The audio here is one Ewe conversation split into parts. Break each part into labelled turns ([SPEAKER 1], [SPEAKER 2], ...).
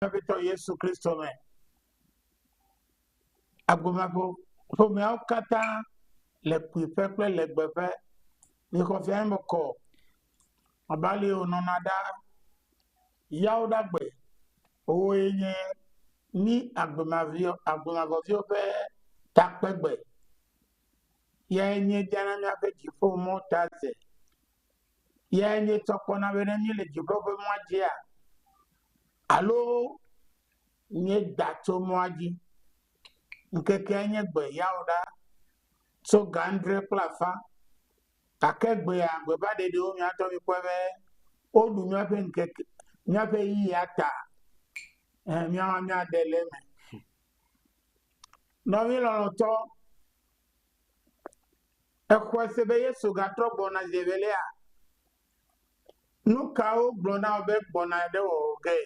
[SPEAKER 1] vevitɔ Yesu Kristo me. Agbomago ƒomeawo katã le kpuiƒe kple legbeƒe yi xɔfia me kɔ abe ale yi wònɔna ɖa yawo ɖagbe. Wowoe nye mí agbemaviwo agbemavɔviwo ƒe takpegbe. Yae míediana míaƒe dziƒomɔ̃ ta ze. Eyae míetsɔ kpɔna be ne míele dziɖɔ ƒe mɔa dzia alo míeda tso mɔa dzi, ŋkekea nye gbe yawoɖa tso ga adre kple afã. Gake gbea gbebaɖeɖiwo mía ŋutɔ mikpɔe be woɖu míaƒe ŋkeke míaƒe ʋeyiʋia ta eh míawo hã míaɖe le eme. Nɔvi lɔlɔ̃tɔ, Exɔe se be Yesu gatrɔ gbɔna zi evelia. Nu kawo gblɔ na wò be gbɔna ɖe wò ge?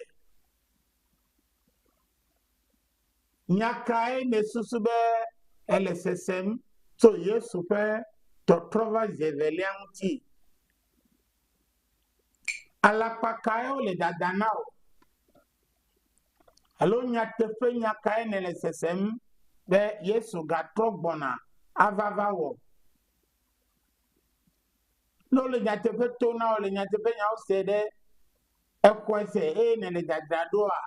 [SPEAKER 1] Nya kae nèsusu be ele sesem tso Yesu ƒe tɔtrɔ va zi evelia ŋuti? Alakpa kae wole dadam na wò? Alo nyateƒenya kae nèle sesem be Yesu gatrɔ gbɔna ava va wɔ? Ne wole nyateƒe to na wò, le nyateƒenyawo se ɖe exɔe se eye nèle dzadzra ɖoa,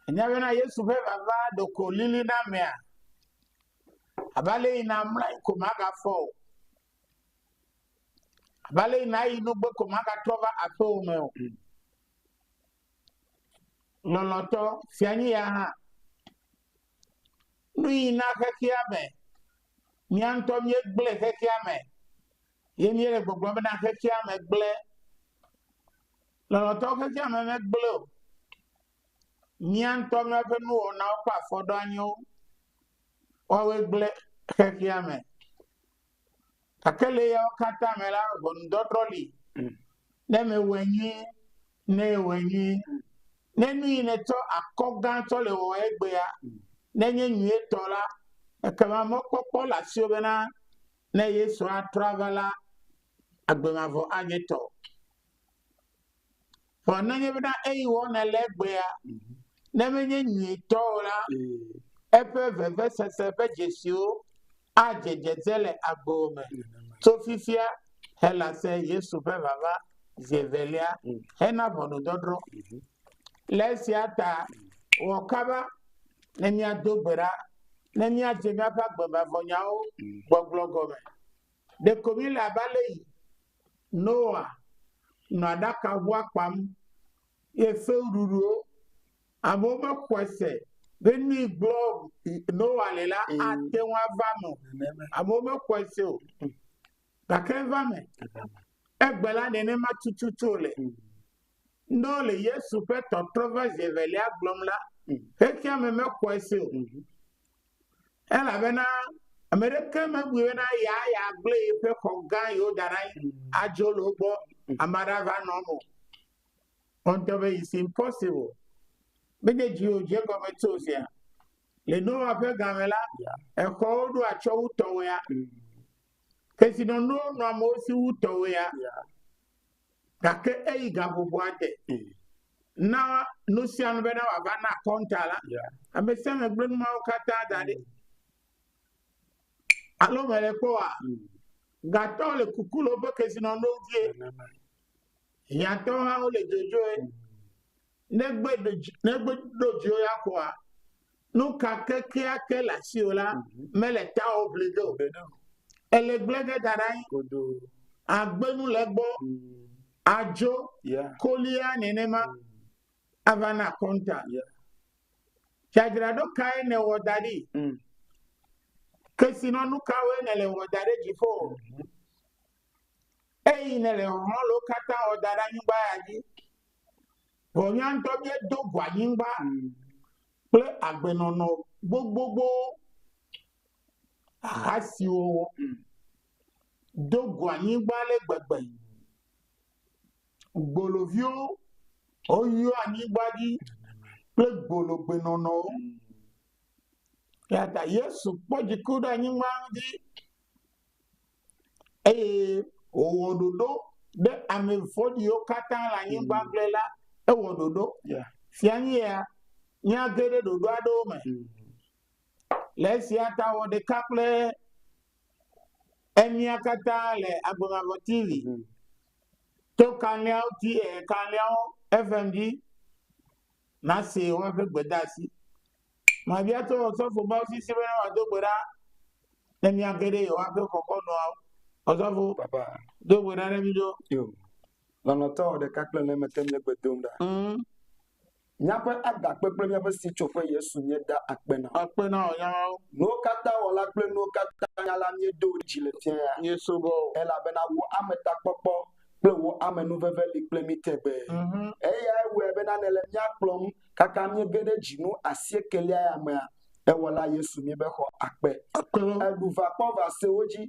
[SPEAKER 1] ènya bena Yesu ƒe vava ɖeko lili na amea abe ale yina mlɔe ko magafɔ o. Abe ale yi nàyi nu gbe ko magatrɔ va aƒewò me o. Lɔlɔ̃tɔ, fia nyi ya hã. Nu yi na xexea me, mía ŋutɔ míegblẽ xexea me, ye míele gbɔgblɔm bena xexea me gblẽ. Lɔlɔ̃tɔ, xexea me megblẽ o. Mía ŋutɔ míaƒe nuwɔnawo kple afɔɖoanyiwo, woawoe gblẽ xexea me. Gake le eyawo katã me la, ʋɔnudɔdrɔ̃ li. Ne mewɔe nyuie, ne ewɔe nyuie, ne nu yi nètsɔ akɔ gã tsɔ le wɔwɔ egbea, nenye nyuietɔ la, ekema mɔkpɔkpɔ le asiwò bena ne Yesu atrɔ ava la, agbe mavɔ anye tɔwò. Vɔ nenye bena eyi wɔ nèle egbea, ne menye nyuitɔ o la, eƒe vevesese ƒe dzesiwo adze dzedze le agbowo me tso fifia helase Yesu ƒe vava zi evelia hena ʋɔnudɔdrɔ̃. Le esia ta, wɔ kaba ne míado gbe ɖa ne míadze míaƒe agbemavɔnyawo gbɔgblɔ gɔme. Ɖeko míele abe ale Noa nɔ aɖakaʋua kpam ye fewuɖuɖuwo. Amewo mexɔe se be nui gblɔm Noa le la ate ŋu ava eme o. Amewo mexɔe se o. Gake eva eme. Egbe la nenema tututu wòle. Ne wole Yesu ƒe tɔtrɔ va zi evelia gblɔm la, xexeame mexɔe se o. Elabena ame ɖeke mebui bena yaa yeagblẽ yeƒe xɔ gã yi woda ɖe anyi adzo le wo gbɔ ame aɖe ava nɔ eme o. Kpɔ ŋutɔ be it's impossible. Menye dziwò dze egɔme tso o sia. Le Noa ƒe gã me la, exɔwo ɖo atsyɔ̃ wu tɔwòea? Kesinɔnuwo nɔ amewo si wu tɔwòea? Gake eyi gaʋuʋua te na nu sia nu bena wòava na akɔnta la, ame sia ame gblẽ nuawo katã da ɖi. Alo mele kpɔa? Gatɔwo le kuku le woƒe kesinɔnuwo dzie. Hiãtɔwo hã wole dzodzroe. Ne gbe ɖo dzi ne gbe ɖo dzi wo ya kɔa nu ka kekeake le asi o la mhm. mele ta o bli do ele gble ge da ɖa yi agbenu le gbɔ mm. adzo kolia nenema mm. avana kɔnta dzadzraɖo kae ne wɔ da ɖi mm. kesinɔnu kawoe ne le wɔ da ɖe dziƒo mhm. eyi ne le hɔlwo katã wɔ da ɖe anyigba ya dzi. Vɔ nya ŋtɔ mie do go anyingba kple agbe nɔnɔ gbogbogbo ha siwo wo do go anyingba le gbegbe. Gboloviwo wo yɔ anyingba dzi kple gbolo gbe nɔnɔ wo. Yata Yesu kpɔ dziku ɖe anyingba ŋdi. eye wòwɔ ɖoɖo ɖe ame vɔ̃ɖiwo katã le anyigba gblẽ la, ewɔ ɖoɖo. Fia nye ya, míage ɖe ɖoɖo aɖewo me. Le esia ta wɔ ɖeka kple emia katã le Agbe Mavɔ TV to kanlẽawo ti, kanlẽawo FM dzi nase woaƒe gbedeasi. Mabia to ɔsɔfo be afi si bene wòado gbe ɖa ne míage ɖe yewoaƒe xɔxɔnua. Ɔsɔfo, do
[SPEAKER 2] gbe ɖa ɖe mí
[SPEAKER 1] ɖo. Yo.
[SPEAKER 2] Lɔlɔ̃tɔ ɖeka kple ne mete míe gbe dom ɖa. Mm. Míaƒe agakpe kple míaƒe sitsoƒe Yesu nye da akpe na. Akpe na wò nyamawo.
[SPEAKER 1] Nuwo katã
[SPEAKER 2] wɔla kple nuwo katã nyala míedo wò dzi le fia ya. Nye subɔ wò. Elabena
[SPEAKER 1] wò
[SPEAKER 2] ametakpɔkpɔ kple wò amenuveve li kple mí tegbee. Mm -hmm. Eyae wɔe bena nèle míakplɔm Kaka míege ɖe dzinu asiekelia ya mea, ewɔla Yesu mi be xɔ akpe. Eɖu vakpɔvasewo dzi.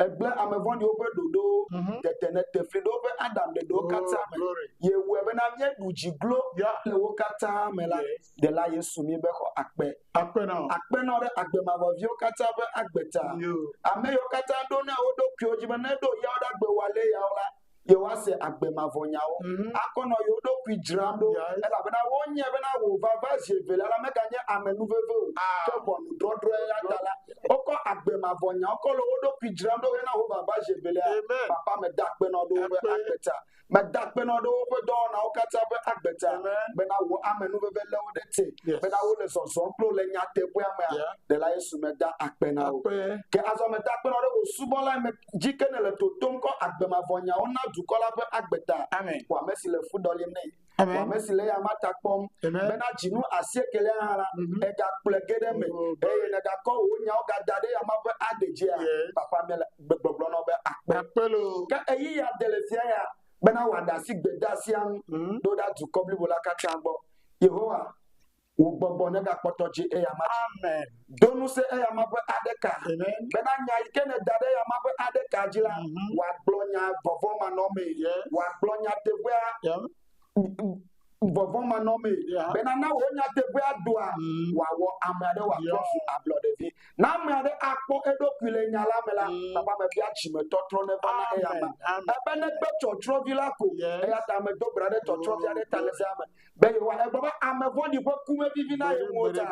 [SPEAKER 2] Egblẽ ame vɔ̃ɖiwo ƒe ɖoɖowo. Mhm. Tete nete fli ɖe woƒe Adam ɖeɖewo oh, katã me. Ye wɔe bena míeɖu dzi glo le wo katã me la, ɖela Yesu mi be xɔ akpe. Akpenɔ ɖe agbe mavɔviwo katã ƒe agbe ta. Ame yiwo katã ɖo na wo ɖokuiwo dzi be ne ɖo yawo ɖe agbe wɔ alea yawo la, yewoase agbe mavɔ nyawo, mhm. akɔ nɔ yewo ɖokui dzram ɖo, elabena wonye bena wò vava zi evelia la meganye ame nuveve o, ah. ke ʋɔnudɔdrɔ̃e la ta la, wokɔ agbe mavɔ nyawo kɔ le wo ɖokui dzram ɖo hena wò vava zi evelia. Papa, meda akpenɔ ɖe woƒe agbe ta, meda akpenɔ ɖe woƒe dɔwɔnawo katã ƒe agbe ta, bena wò ame nuveve lé wo ɖe te, bena wole zɔzɔm kple le nyateƒea mea, ɖela Yesu meda akpe na wo. Ke azɔ meda akpenɔ ɖe wò subɔla dzi ke nèle totom kɔ agbe mavɔ nyawo na dukɔ la ƒe agbe ta. Amen. Wɔ ame si le fu ɖɔlim nɛ. Amen. Wɔ ame si le eyama ta kpɔm Amen. bena dzinu asiekelia hã la, mm -hmm. egakplɔe ge ɖe eme oh, eye negakɔ wò nyawo gada ɖe yama ƒe agbe dzia. Yeah. Papa mele gbegblɔgblɔ na wo be akpe. Akpe lo. Ke eyi ya de le fia ya bena wòaɖe asi gbedasia ŋu mm -hmm. ɖo ɖa dukɔ blibo la katã gbɔ. Yehowa Wò gbɔgbɔ negakpɔtɔ dzi eyama dzi. Amen. Do ŋusẽ eyama ƒe aɖeka. Amen. Bena nya yi ke nèda ɖe eyama ƒe aɖeka dzi la, mhm. wòagblɔ nya vɔvɔ̃manɔmee. Yes. Wòagblɔ nyateƒea. Yeah. Vɔvɔ̃manɔmee. Yeah. Bena na wò nyateƒea doa, mm. wòawɔ ame aɖe wòatrɔ yeah. su ablɔɖevi. Na ame aɖe akpɔ eɖokui le nya la me la, mm. papa mebia dzimetɔtrɔ neva na eyama. Ebe negbe tsɔtsrɔvi la ko. Yes. Eya ta medo bra ɖe tsɔtsrɔvia ɖe ta le zea me. be yewoa. Egblɔ be ame vɔ̃ɖi ƒe ku mevivi na ye ŋu o ta,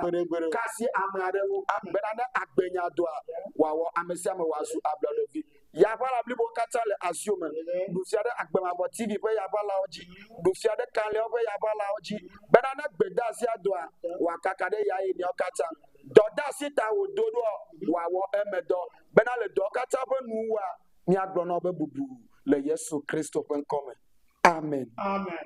[SPEAKER 2] ka si ame aɖewo bena ne agbenya dɔa wòawɔ ame sia ame wòazu ablɔɖevi. Yaʋala blibowo katã le asio me. Ɖu fia ɖe agbemavɔ TV ƒe yaʋalawo dzi, ɖu fia ɖe kalẽwo ƒe yaʋalawo dzi bena ne gbedeasia dɔa wòakaka ɖe ya eneawo katã. Dɔdeasi ta wòdo ɖoa wòawɔ eme dɔ bena le dɔwo katã ƒe nuwua míagblɔ na wo be bubu le Yesu Kristo ƒe ŋkɔ me. Amen. Amen.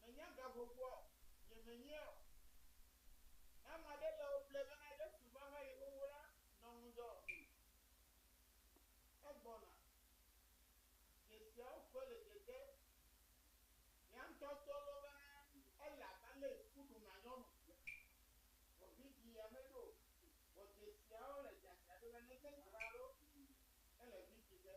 [SPEAKER 2] Menya ga gbogboa o, nye menyea o. Ne ame aɖe le wò ble bena Yesu va va yi xoxo la, nɔ ŋudzɔ o. Egbɔna. Dzesiawo koe le dzedze mía ŋutɔ to loo bena ele abe ale si woɖu na nyɔnu sia. Vɔ vidzĩ ya meɖo o. Vɔ dzesiawo le dzadzra ɖi be nenye dra alo ele vidzĩ ge.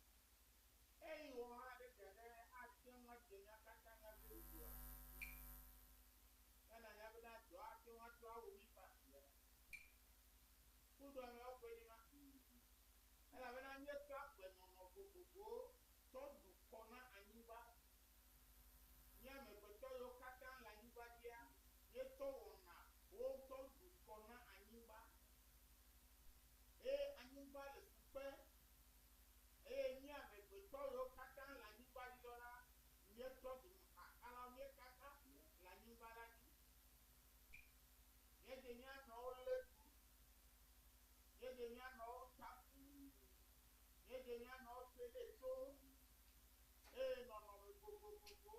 [SPEAKER 2] Eye wɔ ma ɖe fia ɖe ate ŋu adzɔ nya katã nya si wòdzɔa? Be nanya be nadzɔ ate ŋu atrɔ awu mí faa fia. Kudoameawo ƒe ɖi ma? Ĩ! Elabena míetsɔ agbenɔnɔ vovovowo tsɔ ɖu kɔ na anyigba. Mí amegbetɔ yiwo katã le anyigba dzia, míetsɔ wɔna wo tsɔ ɖu kɔ na anyigba.
[SPEAKER 1] Eye anyigba le fu kpe Eye mí amegbetɔ yiwo katã le anyigba dzi lɔ la, míetsɔ dumekakalawo míekaka ʋu le anyigba la dzi. Míedze mía nɔewo lé ɖu, míedze mía nɔewo ta ƒu, míedze mía nɔewo te ɖe to, eye nɔnɔme vovovovowo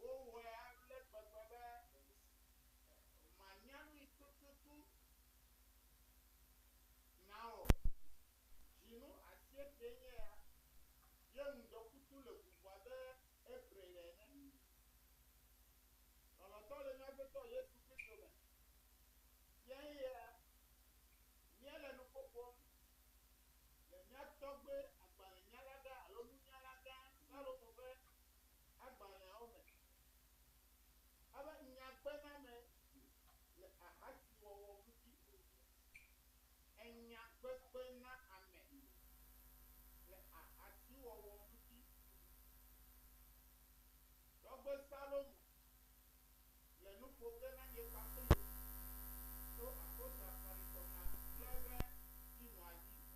[SPEAKER 1] wowɔe ale gbegbe be mànya nui tututu na o. Dzinu asiekee nye ya. Ye ŋdɔkutsu le ʋuʋu abe April ene. Lɔlɔ̃tɔ le mía Agbetɔ Yesu Kristo me. Fiae ya. Míele nu ƒoƒom le mía tɔgbe agbalẽnyalagã alo nunyalagã Salomo ƒe agbalẽawo me. Abe nyagbename le ahasiwɔwɔ ŋuti. Enya kpekpe na ame le ahasiwɔwɔ ŋuti. Tɔgbe Salomo le nu ƒo ge na nye kpakple wò tso apostoloa kɔlikɔmea kple ɣe si nɔa dzi me.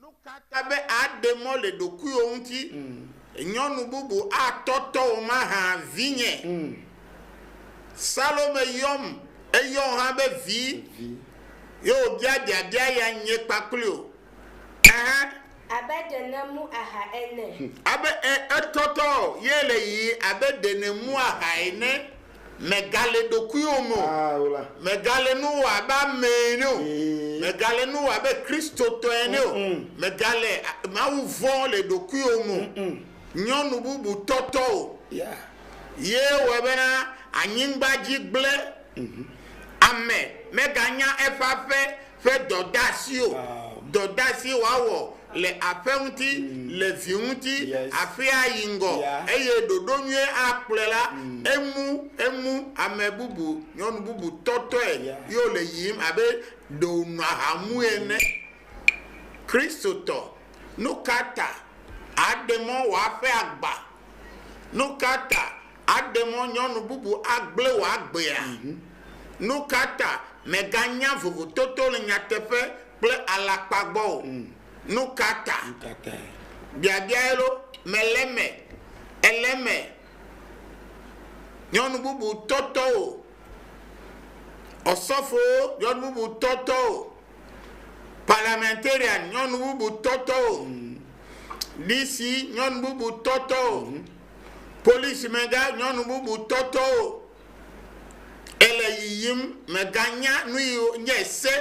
[SPEAKER 3] Nu ka ta be àɖe mɔ le ɖokuiwò ŋuti? Nyɔnu bubu atɔ tɔwò mahã, vinye? Salome yɔm, eyɔ wò hã be vi, ye wòbia biabia ya nye kpakpli o. Ɛhɛ.
[SPEAKER 4] Abe ɖe nèmu aha ene. Abe, ẽ,
[SPEAKER 3] etɔ tɔwò, ye le yiyim abe ɖe nèmu aha ene. Mègale ɖokuiwò me o. Mègale nu wɔ abe ame ene o. Mègale nu wɔ abe Kristotɔ ene o. Mègale Mawu vɔ̃m le ɖokuiwò me o. Nyɔnu bubu tɔ tɔwò ye wɔe bena anyigba dzi gblẽ. Ame meganya eƒe aƒe. ƒe dɔdeasi o, dɔdeasi wòawɔ le aƒe ŋuti, le vi ŋuti, aƒea ayi ŋgɔ, eye ɖoɖo nyuie akplɔe la, emu, emu, ame bubu, nyɔnu bubu tɔtɔe ye wòle yiyim abe ɖe wònɔ aha mue ene. Kristotɔ, nukata àɖe mɔ wòaƒe agba? Nukata Aɖe mɔ nyɔnu bubu agblẽ wò agbea? Nukata mèganya vovototo le nyateƒe kple alakpa gbɔ o? Nukata? Biabia elo mèle eme ele me nyɔnu bubu tɔtɔ o? Ɔsɔfowo nyɔnu bubu tɔtɔ o? Parliamentarian nyɔnu bubu tɔtɔ o? DC nyɔnu bubu tɔtɔ o? Polisimegã nyɔnu bubu tɔ tɔ o. Ele yiyim meganya nuyi nye se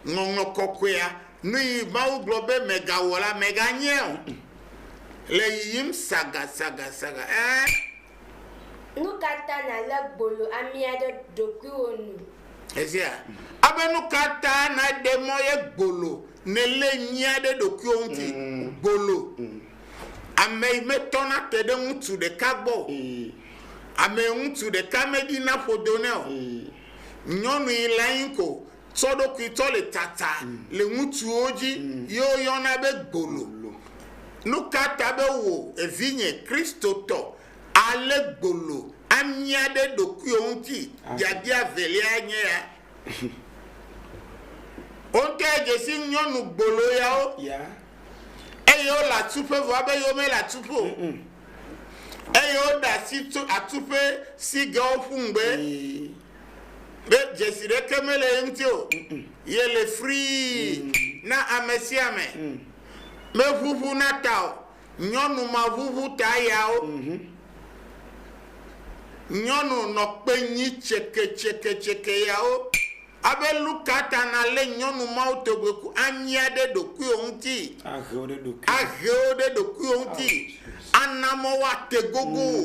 [SPEAKER 3] ŋɔŋlɔ kɔkɔea nuyi Mawu gblɔ be megawɔ la meganye o. Le yiyim sagasagasaga ɛɛ. Nu
[SPEAKER 4] ka ta nàlé gbolo amia ɖe ɖokuiwò nu? Èsea?
[SPEAKER 3] Abe nu ka ta nàɖe mɔ ye gbolo nèlé nyia ɖe ɖokuiwò ŋuti? Gbolo. Ame yi metɔna te ɖe ŋutsu ɖeka gbɔ o, ame yi ŋutsu ɖeka meɖina ƒodo nɛ o, nyɔnu yi le anyi ko tsɔ ɖokui tsɔ le tsatsa le ŋutsuwo dzi ye woyɔna be gbolo. Nu ka ta be wò, evinye Kristotɔ, àlé gbolo amia ɖe ɖokuiwò ŋuti? Biabia eveliae nye ya. Wo ŋutɔe dze si nyɔnu gbolo yawo eye wole atuƒe vɔ abe yewo mele atuƒe o eye woɖe asi tso atuƒe si ge woƒu ŋugbe be dzesi ɖeke mele ye ŋuti o yele frii mm. na ame sia ame mm. meʋuʋu na ta o nyɔnu ma ʋuʋu ta yawo mhm. nyɔnu nɔ kpe nyi tseketseketseke yawo Abe lu ka ta nàlé nyɔnu mawutɔgbe ku anyia ɖe ɖokuiwò ŋuti? Ahe wo ɖe ɖokuiwò. Ahe wo ɖe ɖokuiwò ŋuti. Ana mɔ woate gogo wò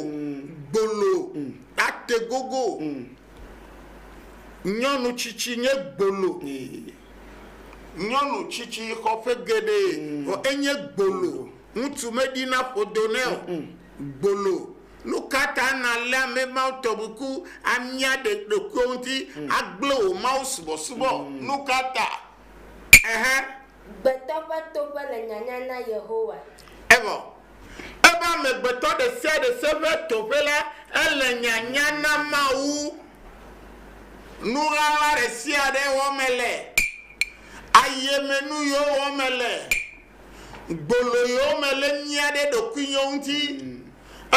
[SPEAKER 3] gbolo ate gogo wò. Nyɔnu tsitsi nye gbolo. Nyɔnu tsitsi xɔ ƒe geɖe vɔ enye gbolo. Ŋutsu meɖina ƒodo nɛ o. Gbolo. Nukata nàlé ame mawo tɔ ŋku amia ɖe ɖokuiwò ŋuti agblẽ wò mawusubɔsubɔ? Nukata? Ɛhɛ.
[SPEAKER 4] Gbetɔ ƒe toƒe le nyanya na Yehowa. Evɔ
[SPEAKER 3] eƒe amegbetɔ ɖe sia ɖe se ƒe toƒe la, ele nyanya na Mawu. Nuɣaɣla ɖe sia ɖe wɔm mele. Ayemenu yio wɔm mele. Gbololo mele mía ɖe ɖokuinyɔ ŋuti,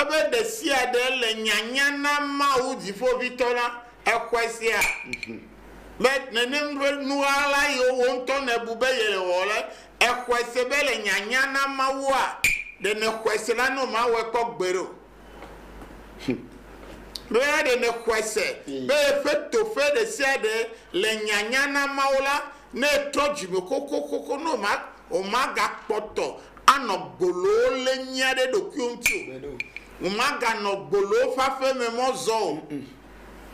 [SPEAKER 3] ebe ɖesiaɖe le nyanya na Mawu Dziƒoʋĩtɔ la, exɔe sea, be nenem ƒe nuɣaɣla yiwo wò ŋutɔ nèbu be yele wɔ le, exɔe se be le nyanya na Mawua, ɖe nèxɔe se la no mawɔe kpɔ gbeɖe o. Be la ɖe nèxɔe se be yeƒe toƒe ɖesiaɖe le nyanya na Mawu la, Ne etrɔ dzime xoxoxoxo ne wòma, wòmagakpɔtɔ anɔ gboloo lé nyia ɖe eɖokuiwo ŋuti o. Wòmaganɔ gboloo ƒe aƒe me mɔ zɔ o.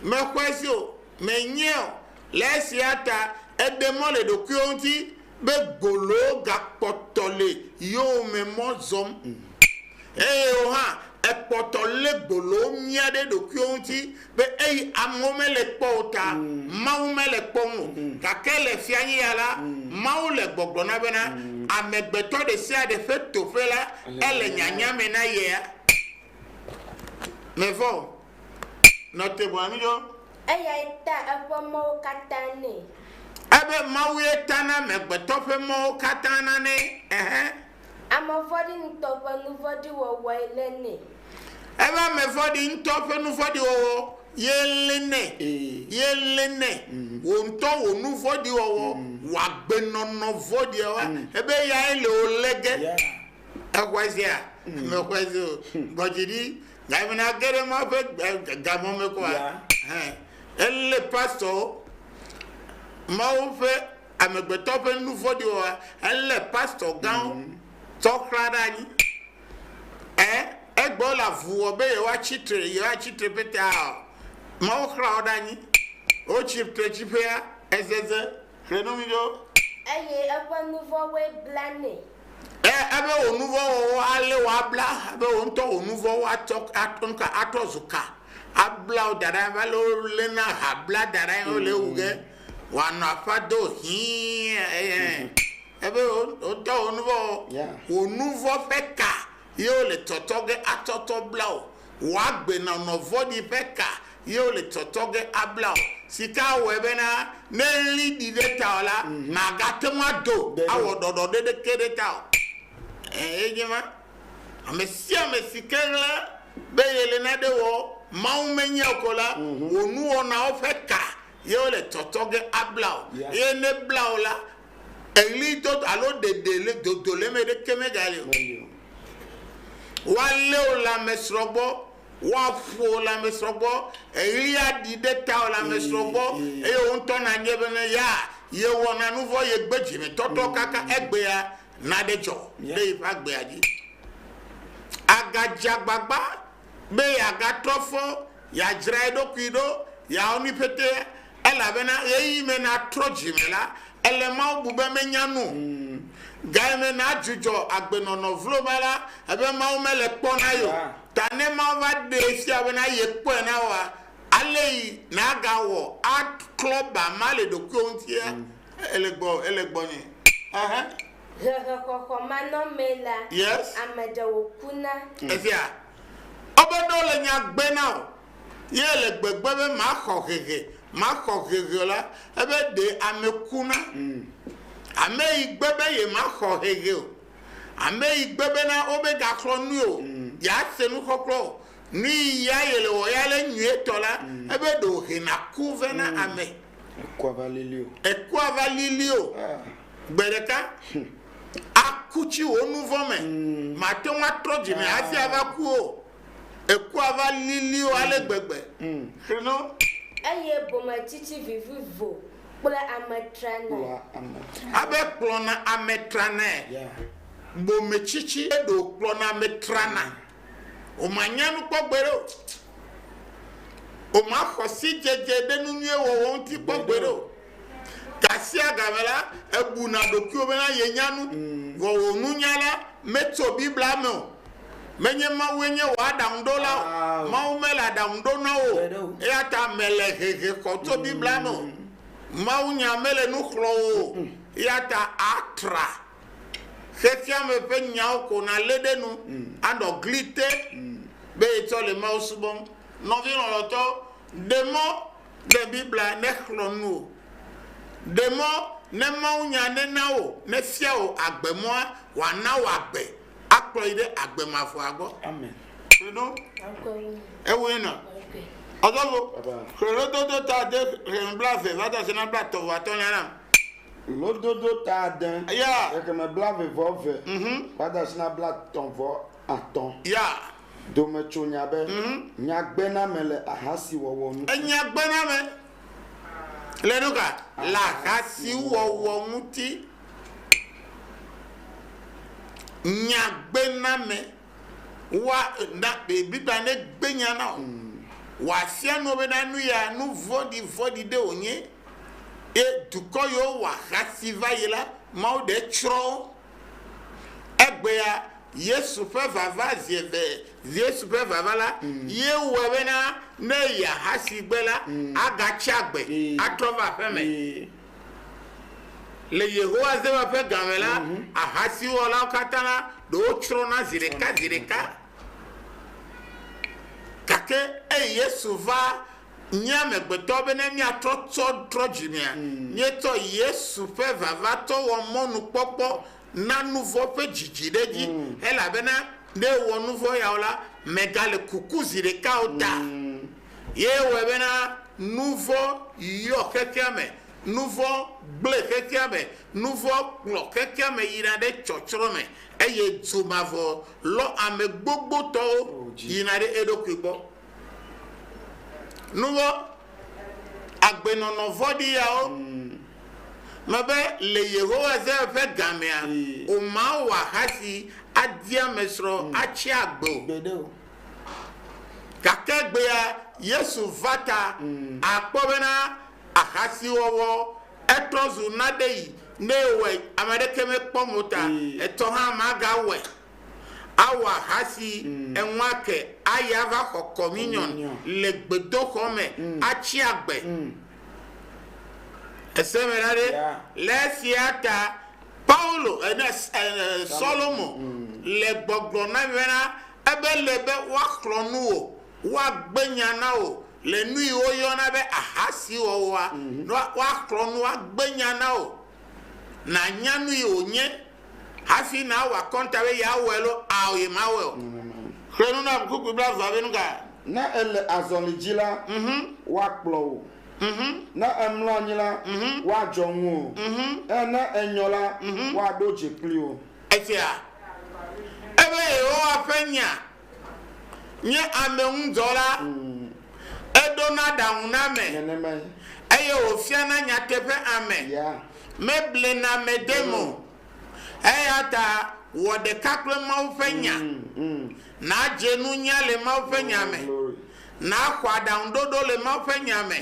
[SPEAKER 3] Mexɔe se o, menyae o. Le esia ta eɖe mɔ le ɖokuiwo ŋuti be gboloo gakpɔtɔ le yowòme mɔ zɔm. Eye wò hã, èkpɔtɔ lé gboloo nyia ɖe ɖokuiwo ŋuti be eyi amewo mele kpɔ o ta, Mawu mele kpɔm o. Gake le fiaɣia la, Mawu le gbɔgblɔ na bena, amegbetɔ ɖesiaɖe ƒe toƒe la, ele nyanya me na yea. Mevɔ̃ o. Nɔ te bɔe nu ɖo. Eyae ta
[SPEAKER 4] eƒe mɔwo katã nɛ. Ebe
[SPEAKER 3] Mawue tana amegbetɔ ƒe mɔwo katã nanɛ. Ɛhɛ.
[SPEAKER 4] Ame vɔ̃ɖi ŋutɔ ƒe nu vɔ̃ɖi wɔwɔe lé nɛ. Ebe ame
[SPEAKER 3] vɔ̃ɖi ŋutɔ ƒe nu vɔ̃ɖi wɔwɔ ye lé nɛ, ye lé nɛ. Wò ŋutɔ wò nu vɔ̃ɖi wɔwɔ, wò agbenɔnɔ vɔ̃ɖia wa, ebe eyae le wò lé ge. Exɔe sea? Mexɔe se o. Gbɔ dzi ɖi, gayi me nàge ɖe Mawu ƒe gamɔ me kɔa? Elé pastɔwo, Mawu ƒe amegbetɔ ƒe nu vɔ̃ɖi wɔwɔ elé pastor gãwo tsɔ xlã ɖe anyi. Ɛ egbɔ wole avu wɔ be yewoa tsi tre yewoa tsi tre pete aa Mawu xlã wo ɖe anyi. Wotsi tre tsiƒea ezeze xlẽ no mi ɖo. Eye
[SPEAKER 4] eƒe nu vɔ̃woe bla nɛ. Ɛ ebe
[SPEAKER 3] wò nu vɔ̃ wɔwɔ alé wò abla ebe wò ŋutɔ wò nu vɔ̃wo atsɔ atrɔ nuka atrɔ zu ka abla wò da ɖa abe ale wole na aha bla da ɖae wole ewu ge. Wanɔ aƒa do hĩĩ eye ebe wotɔ wò nuvɔ o. Wò nuvɔ ƒe ka ye wole tɔtɔ ge atɔtɔ bla wò. Wò agbenɔnɔ vɔ̃ɖi ƒe ka ye wole tɔtɔ ge abla wò. Sika awɔe bena ne ɣli ɖi ɖe tawò la, màgate ŋu ado awɔ ɖɔɖɔ ɖeɖeke ɖe tawò o. Eye nye ma. Amesiame si ke ɣla be yele nane wɔ Mawu menye o ko la, wò nuwɔnawo ƒe ka ye wole tɔtɔ ge abla o. Yeah. Eye ne bla o la, eɣli dodo alo ɖeɖe le dodo le eme ɖeke megali o. Meli o. Woalé wò lãmesrɔ̃ gbɔ, woaƒo wò lãmesrɔ̃ gbɔ, eɣli aɖi ɖe tawò lãmesrɔ̃ gbɔ, Ee, ee. eye wò ŋutɔ nàbiae bene, ya yewɔna nu vɔ̃, yegbe dzimetɔtrɔ kaka egbea, naɖe dzɔ Yeah. ɖe yeƒe agbea dzi. Àgadze agbagba be yeagatrɔ fɔ, yeadzra eɖokui ɖo, yeawɔ nui pɛtɛ, elabena ɣeyiɣi me natrɔ dzi me la, ele Mawu bu be menya nu o. Gaye me nadzudzɔ agbenɔnɔ vloma la, ebe Mawu mele kpɔ na ye o. Ta ne Mawu va ɖee fia bena yekpɔe na woa, aley nagawɔ aklɔ ba ma le ɖokuiwò ŋutia? Eh, ele gbɔ, ele gbɔ nye. Aha. Hehexɔxɔ manɔmee la, Yes. ame ɖewo
[SPEAKER 4] kuna. Efia.
[SPEAKER 3] Wobe ne wole nya gbe na wò, ye èle gbegbe be maxɔ hehe, maxɔ hehe o la, ebe ɖe ame kuna. Ame yi gbe be yemaxɔ hehe o. Ame yi gbe bena womegaxlɔ̃ nui o, yease nuxɔxlɔ̃ o, nu yi ya yele wɔ ya le nyuietɔ la, ebe ɖe wòhena ku vɛ na ame. Ekua va lili o. Ekua va lili o. Gbe ɖeka. Aku tsi wò nu vɔ̃ me. Màte ŋu atrɔ dzi me hafi ava ku o. Ekua va lili o ale gbegbe. Xlẽno. Eye
[SPEAKER 4] bometsitsi vivivo kplɔa ame tranae. Abe
[SPEAKER 3] kplɔna ame tranae. Bometsitsi ɖewo kplɔna ame trana. wòmanya nu kpɔ gbeɖe o. Wòmaxɔ sidzedze ɖe nu nyui wɔwɔ ŋuti kpɔ gbeɖe o. Gasiagame la, ebuna ɖokuiwo bena yenya nu, mm. vɔ wò nunya la metso Biblia me o. Menye Mawue nye wò aɖaŋuɖola o. Mawu mele aɖaŋuɖonɔ o. Eya ta mele hehe xɔ tso mm. Biblia me o. Mawunya mele nu xlɔ̃ o. Mm. Eya ta atra. Xexeame ƒe nyawo ko nàlé ɖe nu anɔ gli te be etsɔ le Mawu subɔm. Nɔvi lɔlɔ̃tɔ, ɖe mɔ ne Biblia nexlɔ̃ nu wò. Ɖe mɔ ne mawunya nena wò nefia wò agbemɔa wòana wò agbe akplɔ yi ɖe agbe mavɔa gbɔ. Xlẽdo
[SPEAKER 4] ewue na.
[SPEAKER 3] Ɔzɔgo, xlẽdododo ta de xlẽme blaeve va do asi na blaetɔ̃ vɔ atɔ̃lia na. Lododo
[SPEAKER 2] ta ade, Ya. xexeme blave
[SPEAKER 3] vɔ
[SPEAKER 2] eve, gbadasina blatɔ̃ vɔ atɔ̃. Ya.
[SPEAKER 3] Dome tso
[SPEAKER 2] nya be, Nyagbename le ahasiwɔwɔ ŋuti. Enyagbename
[SPEAKER 3] le nuka? Le ahasiwɔwɔ ŋuti. Nyagbename wa na be Biblia negbe nya na wò. Wòafia nu wò be na nu ya, nu vɔ̃ɖivɔ̃ɖi ɖe wònye. Ye dukɔ yiwo wɔ ahasi va yi la, Mawu ɖe tsrɔ̃ wo. Egbea Yesu ƒe vava zi eve. Yesu ƒe vava la ye wɔe bena ne eyi ahasi gbe la, agatsi agbe atrɔ va aƒeme. Le Yehowa Zewa ƒe ga me la, ahasiwɔlawo katã la, ɖewo tsrɔ̃na zi ɖeka zi ɖeka. Gake eyi Yesu va nye amegbetɔ be ne míatrɔ tsɔ trɔ dzi mea, míetsɔ Yesu ƒe vavatɔ wɔ mɔnukpɔkpɔ na nu vɔ̃ ƒe dzidzi ɖe edzi, elabena ne ewɔ nu vɔ̃ ya o la, megale kuku zi ɖeka o ta. Ye wɔe bena nu vɔ̃ yɔ xexea me, nu vɔ̃ gblẽ xexea me, nu vɔ̃ kplɔ xexea me yina ɖe tsɔtsrɔ̃ me, eye du mavɔ lɔ ame gbogbotɔwo yina ɖe eɖokui gbɔ. Nuvɔ̃, agbenɔnɔ vɔ̃ɖi yawo me be le Yehowa se ƒe gamea, womawɔ ahasi adi amesrɔ̃ atsi agbe o.
[SPEAKER 2] Gake
[SPEAKER 3] egbea Yesu va ta akpɔ bena ahasiwɔwɔ etrɔ zu naɖeɣi. Ne yewɔe, ame aɖeke mekpɔ mɔ ta etɔ hã magawɔe Awɔ ahasi eŋɔa ke ayi ava xɔ kɔminiɔn le gbedoxɔ me atsi agbe. Èse eme la ɖe? Le esia ta Paulo, Solomo le gbɔgblɔm na mi bena, ebe ele be woaxlɔ̃ nu wò, woagbe nya na wò le nu yi woyɔna be ahasi wɔwɔa, woaxlɔ̃ nu, woagbe nya na wò, nànya nu yi wònye. Hafi nàwɔ akɔnta be yeawɔe loo ao yemawɔe o, xlẽ nu na ʋuŋkukui blaevea be nu ka? Ne èle
[SPEAKER 2] azɔli dzi la, woakplɔ wò. Ne èmlɔ anyi la, woadzɔ ŋuwò. Eye ne ènyɔ la, woaɖo dze kpli wò. Etsea?
[SPEAKER 3] Ebe Yehowa ƒe nya nye ameŋudzɔla, eɖona ɖaŋu na ame, eye
[SPEAKER 2] wòfiana
[SPEAKER 3] nyateƒe ame,
[SPEAKER 2] meblena
[SPEAKER 3] ame dem o. Eyata wɔ ɖeka kple Mawu ƒe Nya, nàdze nunya le Mawu ƒe Nya me, nàxɔ aɖaŋuɖoɖo le Mawu ƒe Nya me,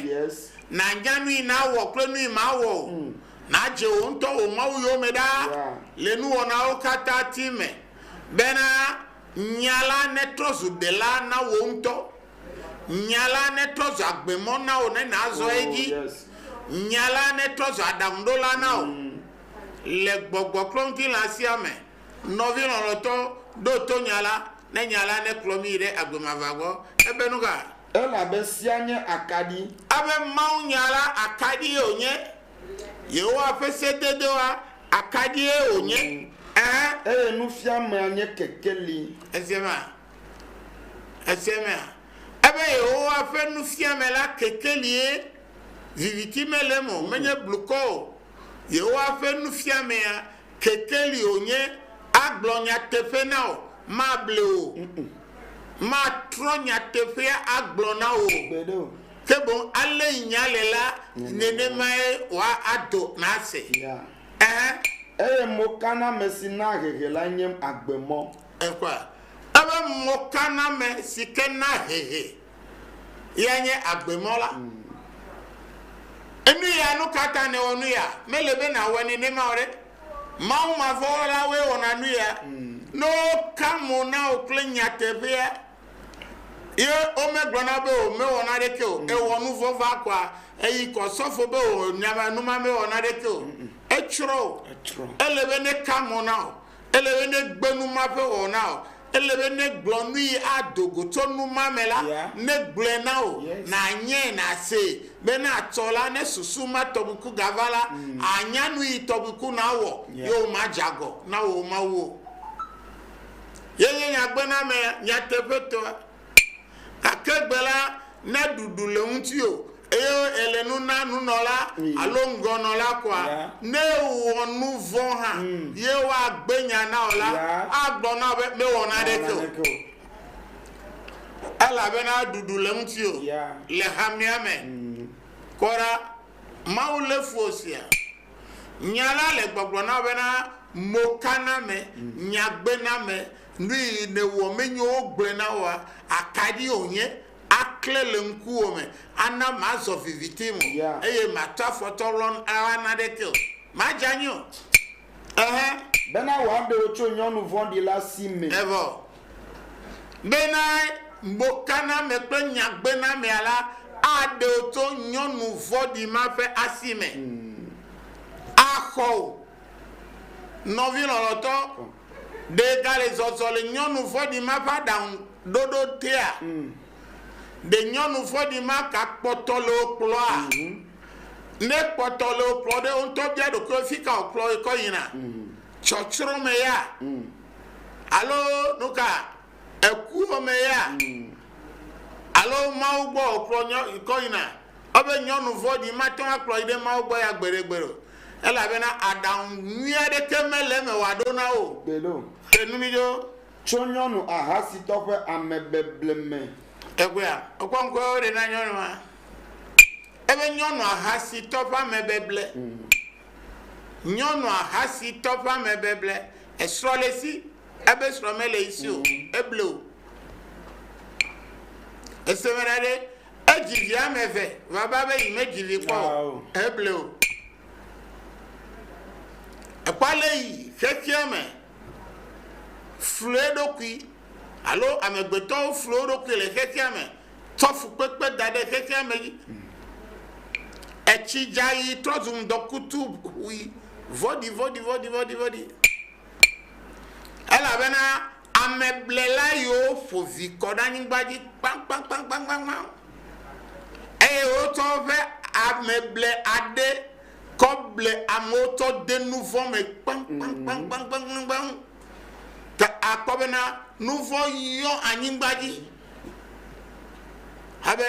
[SPEAKER 3] nànya
[SPEAKER 2] nui
[SPEAKER 3] nawɔ kple nui mawɔ o, nàdze wò ŋutɔ wò Mawu yome ɖa le nuwɔnawo katã ti me, bena Nya la netrɔ zu dela na wò ŋutɔ. Nya la netrɔ zu agbemɔ na wò ne nàzɔ edzi. Nya la netrɔ zu aɖaŋuɖola na wò le gbɔgbɔkplɔŋutilã sia me. Nɔvi lɔlɔ̃tɔ, ɖo to nya la, ne nya la nekplɔ mí yi ɖe agbe mavaa gbɔ. Ebe nu ka? Elabe
[SPEAKER 2] sia nye akaɖi. Ebe mawunya
[SPEAKER 3] la akaɖie wònye. Yehowa ƒe sededewoa, akaɖie wònye? Ɛ̃. Eye
[SPEAKER 2] nufiamea nye kekeli. Èse ema?
[SPEAKER 3] Èse emea? Ebe Yehowa ƒe nufiame la kekelie, viviti mele eme o, menye blukɔ o. Yehowa ƒe nufiamea kekeli o nye agblɔ nyateƒe na wò, mable wò o, matrɔ nyateƒea agblɔ na wò o, ke
[SPEAKER 2] boŋ ale
[SPEAKER 3] yi nya le la, nenemae wòado nase. Ɛhɛ. Eye
[SPEAKER 2] mokaname si naa hehe lae nye agbemɔ. Ekpɔe?
[SPEAKER 3] Ebe mokaname si ke naa hehe. Ye nye agbe mɔ la. Enu ya, nu ka ta nèwɔ nu ya? Mele be nàwɔe nenema o ɖe! Mawumavɔ̃wɔlawoe wɔna nu ya. Ne woka mo na wò kple nyateƒea, ye womegblɔna be wòmewɔ naneke o, ewɔ nu vɔ̃ va kɔa, èyi kɔ sɔfo be wò numamewɔ naneke o, etsrɔ̃ wò. Ele be neka mo na wò. Ele be ne gbe nu ma ƒe wɔwɔ na wò. Ele be ne gblɔ nui ado go tso nu ma me la, ne gblɔe na wò, nànyae, nàsee, be ne atsɔ la, ne susu ma tɔgbi ku gava la, ànya nu yi tɔgbi ku nàwɔ, ye womadze agɔ na wò mawuwo. Ye nye nyagbenamea, nyateƒetɔa. gake egbe la, ne ɖuɖu le ŋutiwò, eye èle nu na nunɔla alo ŋgɔnɔla kɔa, ne èwɔ nu vɔ̃ hã, ye woagbe nya na wò la, agblɔ na wò be, Mewɔ naneke o, elabena ɖuɖu le ŋutiwò le hamea me. Kpɔ ɖa, Mawu lé fu wò sia! Nya la le gbɔgblɔ na wò bena, Mokaname, nyagbename, Nuyi nèwɔ menye wogblɔe na wòa? Akaɖi wònye? Aklẽ le ŋkuwò me, ana màzɔ viviti me o, eye màtɔ afɔ tɔ lɔn aɣla naneke o. Madze anyi o. Ɛhɛ.
[SPEAKER 2] Bena wòaɖe wò tso nyɔnu vɔ̃ɖi la si me. Evɔ
[SPEAKER 3] bena mɔkaname kple nyagbenamea la aɖe wò tso nyɔnu vɔ̃ɖi ma ƒe asi me. Axɔ wò, nɔvi lɔlɔ̃tɔ. Ɖe gale zɔzɔ le nyɔnu vɔ̃ɖi ma ƒe aɖaŋu ɖoɖo tea? Ɖe nyɔnu vɔ̃ɖi ma ka kpɔtɔ le wo kplɔa? Ne kpɔtɔ le wo kplɔ ɖe, wo ŋutɔ bia ɖokui wo fika wòkplɔ wo kɔ yina? Tsɔtsrɔ̃ me ya? Alo nuka? Ekuwɔ me ya? Alo Mawu gbɔ wòkplɔ kɔ yina? Ebe nyɔnu vɔ̃ɖi mate ŋu akplɔ yi ɖe Mawu gbɔ ya gbeɖegbeɖe o. Elabena aɖaŋu nyui aɖeke mele eme wòaɖo na wo o. Kpe ɖo. Kpe nu mí
[SPEAKER 2] ɖo.
[SPEAKER 3] Tso nyɔnu
[SPEAKER 2] ahasitɔ ƒe amebeble me. Teƒea,
[SPEAKER 3] wokpɔ ŋkɔe woɖe na nyɔnua. Ebe nyɔnu ahasitɔ ƒe amebeble. Nyɔnu ahasitɔ ƒe amebeble. Esrɔ̃ le esi, ebe srɔ̃ mele esi o. Eble o. Ese me ɖaɖɛ, Edzi vi ame eve vava be yi medzi vi kpɔ o. Eble o. Ekpɔ le yi xexea me flu eɖokui alo amegbetɔwo flu woɖokui le xexea me tsɔ fukpekpe da ɖe xexea me dzi. Etsi dza yi trɔ zu ŋdɔkutu ʋui vɔɖivɔɖivɔɖivɔɖivɔɖi elabena Ameblela yiwo ƒo vi kɔ ɖe anyigba dzi kpaŋkpaŋkpaŋkpaŋkpaŋ, eye wotsɔ woƒe ameble aɖe kɔ ble amewo tsɔ de nu vɔ̃ me kpaŋkpaŋkpaŋkpaŋkpaŋ. Ta akpɔ bena nu vɔ̃ yɔ anyigba dzi. Abe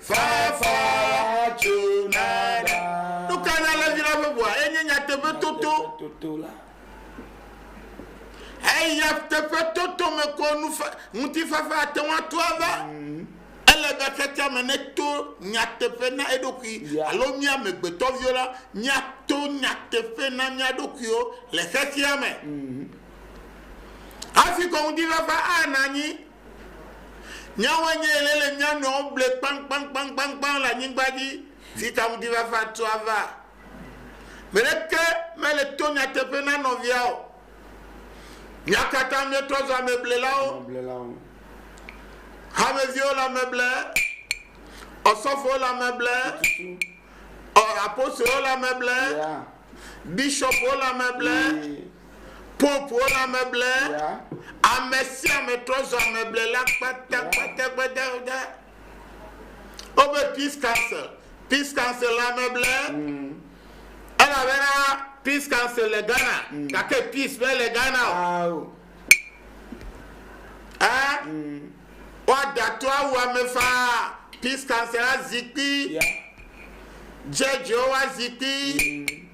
[SPEAKER 3] Fafa tso na ɖa. Nu ka nye alẽvi la ƒe ʋua? Enye nyateƒe toto. Toto la. Eya teƒe toto me ko ŋutifafa ate ŋu ato ava. Ele be xexea me neto nyateƒe na eɖokui alo mía amegbetɔviwo la, míato nyateƒe na mía ɖokuiwo le xexea me. Hafi ko ŋutifafa ana anyi Nyawoe nye ele le mía nɔewo ble kpaŋkpaŋkpaŋkpaŋ le anyigba dzi si ta ŋutifafa tu ava. Me ɖeke mele to nyateƒe na nɔvia o. Mía katã míetrɔ zu ameblelawo. Hameviwo le ameble, ɔsɔfowo le ameble, apostolowo le ameble, bishɔpwo le ameble. Popowo le ame ble. Ame sia ame trɔ zɔ ame ble la kpata kpata kpata kpata. Woƒe peace council, peace council le ame ble. Mm. Elabena peace council le Ghana, mm. gake peace mele Ghana o. Ah, oh. Eh? Mm. Woada to awu ame faa peace council azikpui. Yeah. Judgewo azikpui. Mm.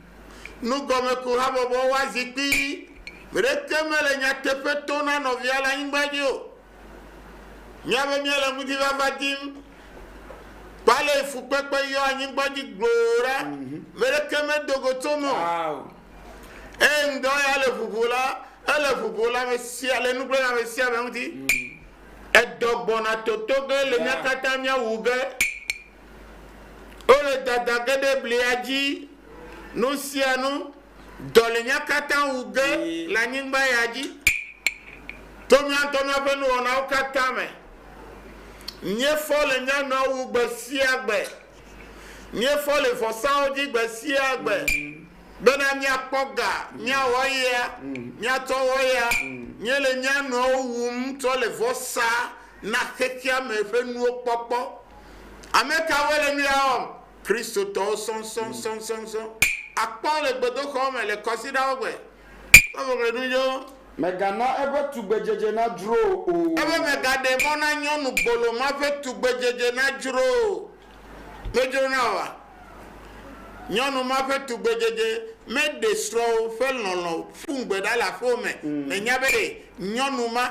[SPEAKER 3] Nugɔmekuhabɔbɔ wa zi kpii. Gbe ɖeke mele nyateƒe to na nɔvia le anyigba dzi o. Mía be míele ŋutifafaa dim. Kpɔ ale fukpekpe yɔ anyigba dzi gbloo ɖa. Mhm. Me ɖeke medo go tso me o. Eye ŋdɔ ya le ʋuʋu la, ele ʋuʋu le ame sia le nu kple le ame sia ame ŋuti. Mhm. Edɔ gbɔna toto ge le mía katã mía wu ge. Wole dada ge ɖe blia dzi, nu sia nu, dɔlinya katã wu ge le anyigba ya dzi, to mía ŋutɔ míaƒe nuwɔnawo katã me. Míefɔ le mía nɔewo wu gbe sia gbe. Míefɔ le vɔsawo dzi gbe sia gbe bena míakpɔ ga, míawɔ eya, míatsɔ awɔ eya. Míele mía nɔewo wum tsɔ le vɔsa na xexea me ƒe nuwo kpɔkpɔ. Ame kawoe le nu ya wɔm? Kristotɔwo sɔsɔsɔsɔsɔ. Àkpɔ wo le gbedoxɔ me, le kɔsiɖawo gbe, le ʋeʋẽɖudzɔwo. Mègana eƒe
[SPEAKER 2] tugbedzedze nadzro o. Ebe mègaɖe mɔ
[SPEAKER 3] na nyɔnu gbolo ma ƒe tugbedzedze nadzro o. Medzro na wòa? Nyɔnu ma ƒe tugbedzedze meɖe srɔ̃wò ƒe lɔlɔ̃ ƒu ŋugbe ɖa le aƒewò me. Nènya be nyɔnu ma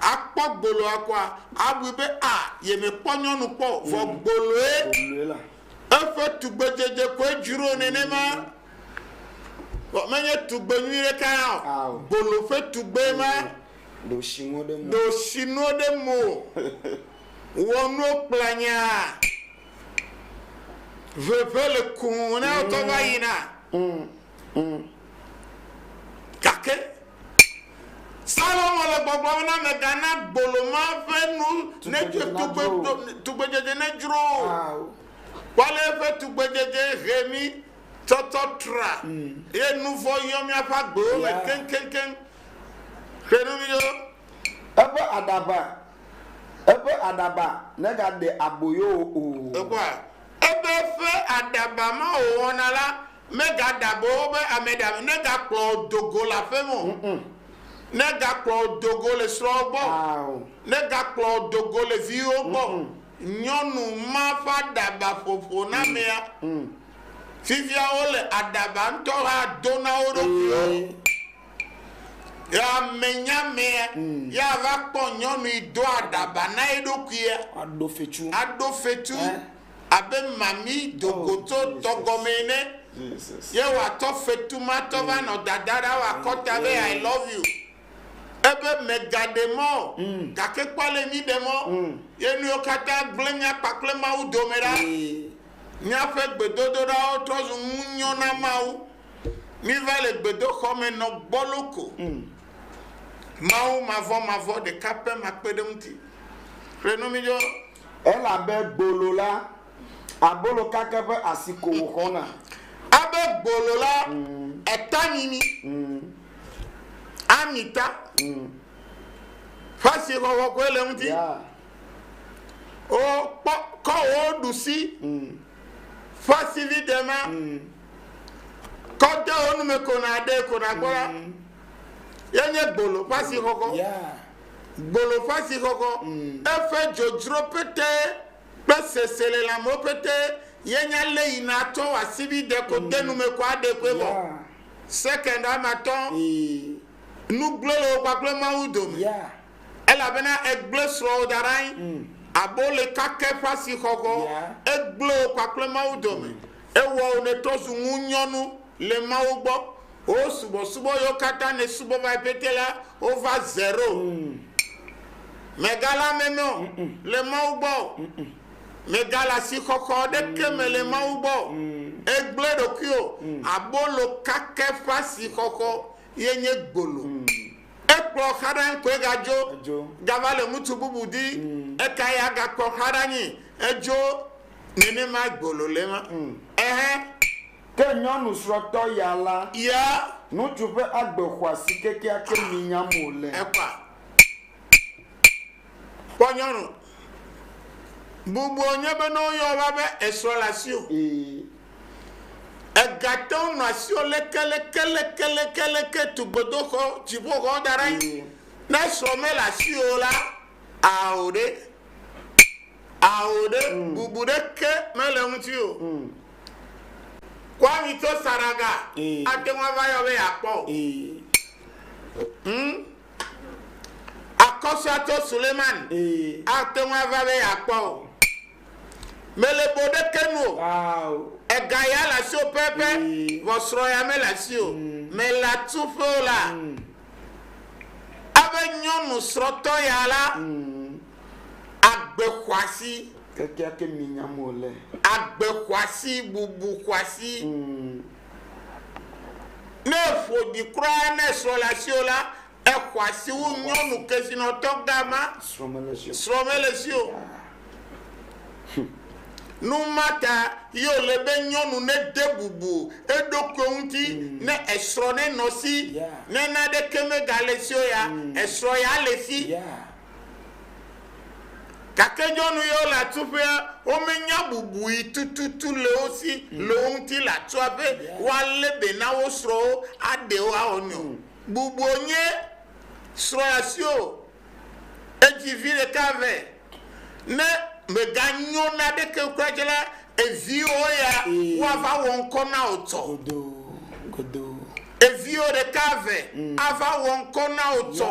[SPEAKER 3] Akpɔ gboloa koa, abui be a yemekpɔ nyɔnu kpɔ o, vɔ gboloe eƒe tugbedzedze koe dzro nenema. Vɔ menye tugbe nyui ɖeka ya o, gbolo ƒe tugbee ma. Ɖo shinuwo
[SPEAKER 2] ɖe mo. Ɖo shinuwo ɖe
[SPEAKER 3] mo. Wɔ nuwo kplanya. Veve le kum ne wotɔ va yina. ŋu. Gake Salomo le gbɔgblɔm na megana gbolo ma ƒe nu nedzro tugbedzedze nedzro o. Kpɔale eƒe tugbedzedze he mí tsɔtsɔ tra eye nu vɔ̃ yɔ míaƒe agbewo me keŋkeŋkeŋ. Ƒle nu mi ɖo. Eƒe aɖaba,
[SPEAKER 2] eƒe aɖaba negaɖe aboyo wò o. Ekpɔa? Ebe
[SPEAKER 3] eƒe aɖaba ma wòwɔna la, Megaɖagbe wo be ame ɖe ame, negakplɔ wo do go le aƒe me o, negakplɔ wo do go le srɔ̃wo gbɔ o, negakplɔ wo do go le viwo gbɔ o. Nyɔnu ma ƒe aɖaba ƒoƒo na amea. Fifia wole aɖaba ŋutɔ hã do na wo ɖokuiwo. Ya menya amea, ya va kpɔ nyɔnu yi do aɖaba na eɖokuia. Aɖo fetu. Aɖo fetu. abe mami dogoto oh, tɔ gɔmee ne. Ye wòatɔ fetu ma tɔ va nɔ dada ɖa wòakɔta be I love you. Ebe mègaɖe mɔ o, mm. gake kpɔ ale mi ɖe mɔ. Mm. Ye nuwo katã gblẽ mía kpakple Mawu dome ɖa. Míaƒe gbedodoɖawo trɔ zu ŋunyɔ na Mawu. Míva le gbedoxɔ me nɔ gbɔlo ko. Mm. Mawu mavɔmavɔ ɖeka pɛ makpeɖeŋuti. Xlẽ nu mi dzo. Elabe
[SPEAKER 2] gbolo la, abolo kake ƒe asi ko wòxɔna. Elabe
[SPEAKER 3] gbolo la, eta nyinyi, amita ƒe asi xɔxɔ koe le eŋuti. Oo, kpɔ, kɔ wò ɖusi ƒe asivide ma, kɔ de wò nu me ko nàɖee ko nàkpɔ la, ye nye gbolo ƒe asi xɔxɔ. Gboloƒasixɔxɔ, eƒe dzodzro pete kple seselelãmewo pete ye nye ale yi nàtsɔ wɔ asibide ko de nu me ko aɖe ƒe vɔ. Sekɛnd ame atɔ̃ nu gblẽ le wò kpakple Mawu dome, elabena ègblẽ srɔ̃wò da ɖe anyi abe le kake ƒe asixɔxɔ, egblẽ wò kpakple Mawu dome, ewɔ wò nètrɔ zu ŋunyɔnu. le Mawu gbɔ. Wò subɔsubɔ yiwo katã nèsubɔ vae pɛtɛ la, wova zero. Mègale ameme o le Mawu gbɔ o. Mègale asixɔxɔ aɖeke me le Mawu gbɔ o. Ègblẽ ɖokuiwò. Abolo kakɛ ƒe asixɔxɔ ye nye gbolo. Ekplɔ xa ɖe anyi koe gadzo, gava le ŋutsu bubu di. Ekae agakplɔ xa ɖe anyi? Edzo nenemae gbolo le ema. Ɛhɛ.
[SPEAKER 2] Ke nyɔnu srɔtɔ ya la, nutsu
[SPEAKER 3] ƒe agbe
[SPEAKER 2] xɔasi kekeake mi nyam wòle. Ekpɔa?
[SPEAKER 3] Kpɔ nyɔnu. Bubuɔ nye be ne woyɔ va be esrɔ le asiwò. Ee. Ega te ŋu nɔ asiwò leke leke leke leke leke tu gbedoxɔ dziƒoxɔ da ɖe anyi. Ne esrɔ me le asiwò la, ao ɖe. Ao ɖe. Bubu ɖeke me le ŋutiwò. Kɔ ami tso saraga. Ate ŋu ava yɔ be yeakpɔ o. Hm. Akɔsua tso Suleiman. Ate ŋu ava be yeakpɔ o. Mele bo ɖeke nu o. Ega ya le asiwò pɛpɛ, vɔ srɔ̃ ya mele asiwò o. Mele atuƒe o la, ebe nyɔnu srɔ̃tɔ ya la, Agbe xɔasi. Kekeake minyam
[SPEAKER 2] wòle. Agbe xɔasi,
[SPEAKER 3] bubu xɔasi. Ne eƒo ɖi kura ne esrɔ̃ le asiwò la, exɔasi wu nyɔnu kesinɔtɔ gã ma. Srɔ̃ mele esi o. Srɔ̃ mele esi o. Nu ma ta ye wòle be nyɔnu nede bubu eɖokui ŋuti ne esrɔ̃ nenɔ esi. Ne naneke megale esi o ya, esrɔ̃ ya le esi. Gake nyɔnu yawo le atsuƒea, womenya bubui tututu le wo si le wo ŋuti le atsua be woalé be na wo srɔ̃wo, aɖe wo, awɔ nui o. Bubuo nye srɔ̃ asiwo edzi vi ɖeka vɛ. Ne mèganyo na ɖeke kura dzi la, eviwo ya woava wɔ ŋkɔ na wò tsɔ. Eviwo ɖeka vɛ ava wɔ ŋkɔ na wò tsɔ.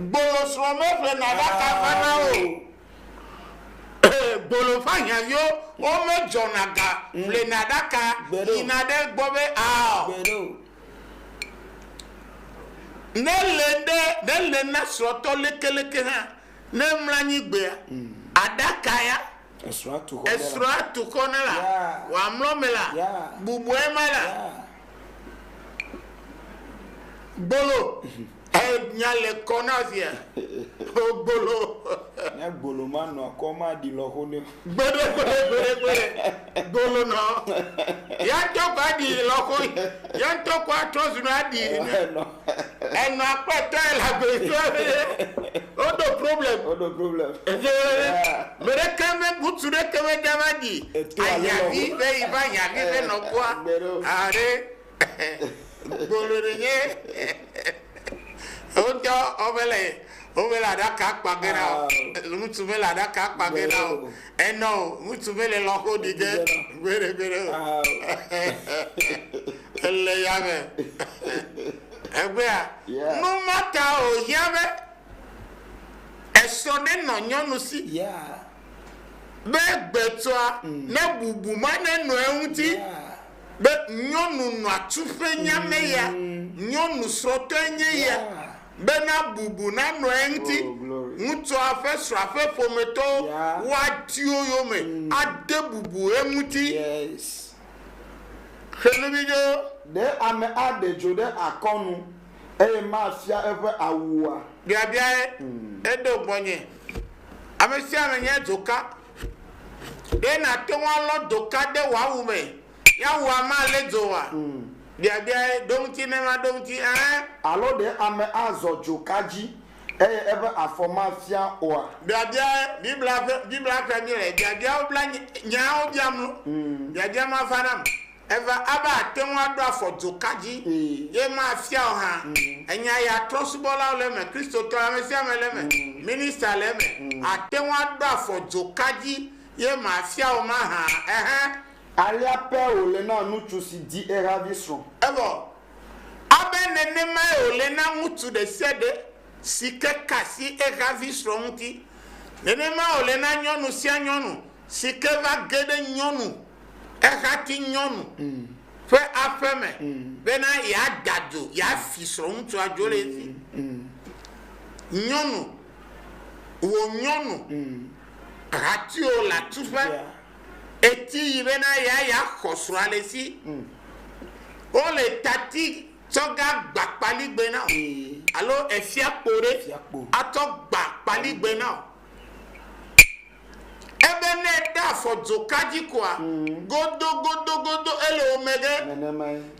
[SPEAKER 3] Gbolo srɔ̃ meƒlena ɖaka vana o. Gbolo ƒe ahiãviwo womedzɔna ga ƒlena ɖaka yina ɖe egbɔ be ao. Ne le ɖe, ne le na srɔ̃tɔ lekeleke hã, ne emlɔ anyi gbea, aɖaka ya, esrɔ̃a tu xɔ ne la, wòamlɔ me la, bubua ema la, Gbolo nya le kɔ na via. O gbolo. Ne gbolo
[SPEAKER 2] ma nɔ kɔ ma ɖi lɔ xo ne. Gbede gbede gbede gbede
[SPEAKER 3] gbolo nɔ. Ya tɔ kɔ aɖi lɔ xo. Ya tɔ kɔ atrɔ zu nɔ aɖi. Enɔa kpe tɔe le agbetɔ eye woɖo problem. Woɖo problem.
[SPEAKER 2] Eye
[SPEAKER 3] meɖeke me ŋutsu ɖeke meda va dzi ahiahi be yi va hiahi be nɔkua aɖe gbolo ɖe nye wotɔ womele womele aɖaka kpa ge na ŋutsu mele aɖaka kpa ge na o. Enɔ o, ŋutsu mele lɔxo ɖi ge gbeɖegbeɖe o. Ele yame. Egbea, nu ma ta wòhiã be esɔ nenɔ nyɔnu si
[SPEAKER 2] be
[SPEAKER 3] gbetsɔa nebubu ma nenɔ eŋuti be nyɔnu nɔa tu ƒe nya me ya, nyɔnu srɔ̃tɔe nye ya. bena bubu nanɔ eŋuti, ŋutsua ƒe srɔ̃a ƒe ƒometɔwo, woati wo yome ade bubu eŋuti.
[SPEAKER 2] Xe nu vi ɖo.
[SPEAKER 3] Ɖe ame aɖe
[SPEAKER 2] dzo ɖe akɔnu eye mafia eƒe awu oa? Biabiae
[SPEAKER 3] eɖo gbɔnye. Ame sia ame nya dzoka. Ɖe nàte ŋu alɔ dzoka de wò awu me Yahweh malé dzo oa? Biabiae, Ɖo ŋuti ne maɖo ŋuti, ɛ̃? Alo ɖe
[SPEAKER 2] ame azɔ dzoka dzi, eye eƒe afɔ mafia oa? Biabiae,
[SPEAKER 3] Biblia ƒe, Biblia ƒea mí le biabiawo bla nyawo biam nu. Biabia ma va nam. Eva abe àte ŋu aɖo afɔ dzoka dzi, ye mafia o hã. Enya ya trɔ̃subɔlawo le eme, Kristotɔ ame sia ame le eme, minista le eme, àte ŋu aɖo afɔ dzoka dzi, ye mafia o mahã, ɛhɛ̃. Alea pɛ
[SPEAKER 2] wòle na ŋutsu si di ehavi srɔ̃. Evɔ
[SPEAKER 3] abe nenemae wòle na ŋutsu ɖe sia ɖe si ke ka asi ehavi srɔ̃ ŋuti, nenemae wòle na nyɔnu sia nyɔnu si ke va ge ɖe nyɔnu, ehati nyɔnu, ƒe aƒe me bena yeada dzo, yeafi srɔ̃ŋutsua dzo ɖe edzi. Nyɔnu, wò nyɔnu, hatiwò le atuƒe. Eti yi bena ya ya xɔ srɔa le si o le tati tsɔ ga gba kpali gbe na o alo efia kpo ɖe a tsɔ gba kpali gbe na o. Ebe ne ɖe afɔ dzo ka dzi koa godo godo godo ele wo me ge.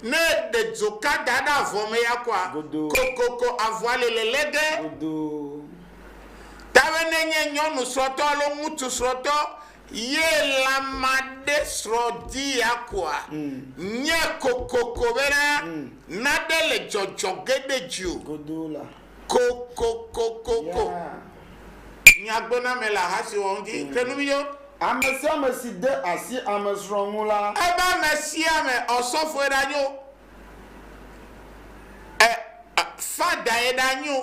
[SPEAKER 3] Ne ɖe dzo ka da ɖe avɔ me ya koa kokoko avɔa le lele ge. Ta be ne nye nyɔnu srɔtɔ alo ŋutsu srɔtɔ Ye la maɖe srɔ̃ di akua? Nye kokoko bena naɖe le dzɔdzɔ ge ɖe dziwò. Godoo la.
[SPEAKER 2] Kokokokoko.
[SPEAKER 3] Nya gbe na me le aha si wɔ ŋuti ke nu miyɔ. Amesiame si
[SPEAKER 2] de asi amesrɔ̃ ŋu la. Ebe amesiame
[SPEAKER 3] ɔsɔfoe ɖanyo. E, e, fadae ɖa nyo.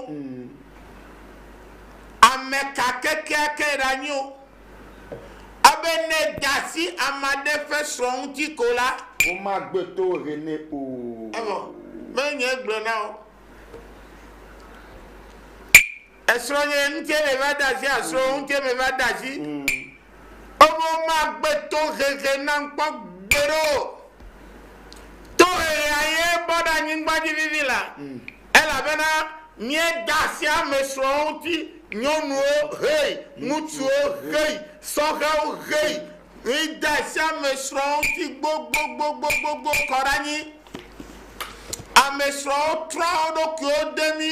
[SPEAKER 3] Ameka kekeake ɖa nyo. Ebe ne dasi amaɖe ƒe srɔ̃ ŋuti ko la. Woma gbe
[SPEAKER 2] to he nɛ o. Evɔ,
[SPEAKER 3] me nye gblɔ na o. Esrɔ̃nye ŋuti me va de asi, asrɔ̃wò ŋuti me va de asi. Wo be womagbe tohehe nam kpɔ gbeɖe o. Tohehea ye bɔ ɖe anyigba dzi vivi la, elabena míeda asi ame srɔ̃wo ŋuti, nyɔnuwo hei, ŋutsuwo hei, sɔhɛwo hei, míeda asi ame srɔ̃wo ŋuti gbogbogbogbogbogbo kɔ ɖe anyi. Ame srɔ̃wo trɔa wo ɖokuiwo de mí.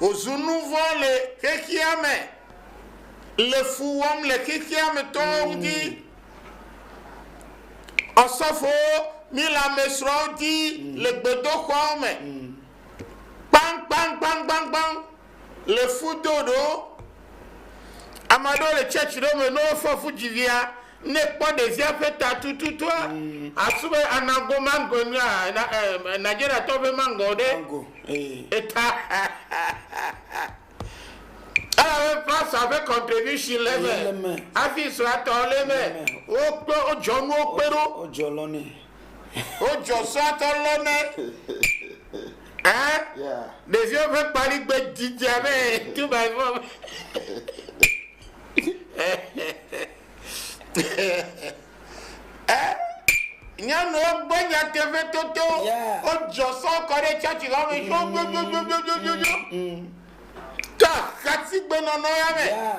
[SPEAKER 3] Wòzu nu vɔ̃ le xexea me, le fu wɔm le xexea me tɔwo ŋuti. Ɔsɔfowo mi le ame srɔ̃wo di le gbedoxɔawo me. Kpaŋkpaŋkpaŋkpaŋkpaŋ le fu do ɖo. Ame aɖewo le tsɛtsi ɖewo me ne wofɔ fu dzivia Ne kpɔ ɖevia ƒe ta tututua, asu be ana go mango nua na eh, Nigeria tɔ ƒe mango ɖe mango eh. ta. Elabe pastor ƒe contribution le me, le me. Hafi srɔa tɔ le me. Wo kpe wo dzɔ nuwo kpe ɖo. Wo dzɔ lɔ ne. Wo dzɔ srɔa tɔ lɔ ne. Eh? Yeah.
[SPEAKER 2] Ɖevio ƒe kpali
[SPEAKER 3] gbe didia me. Two by four. Eh, nyɔnuwo gbɔ nyateƒe toto. Yeah. Wodzɔ sɔ kɔ ɖe tsatsi la me dzodzodzodzodzodzo. To ahatigbenɔnɔ ya me. Ya.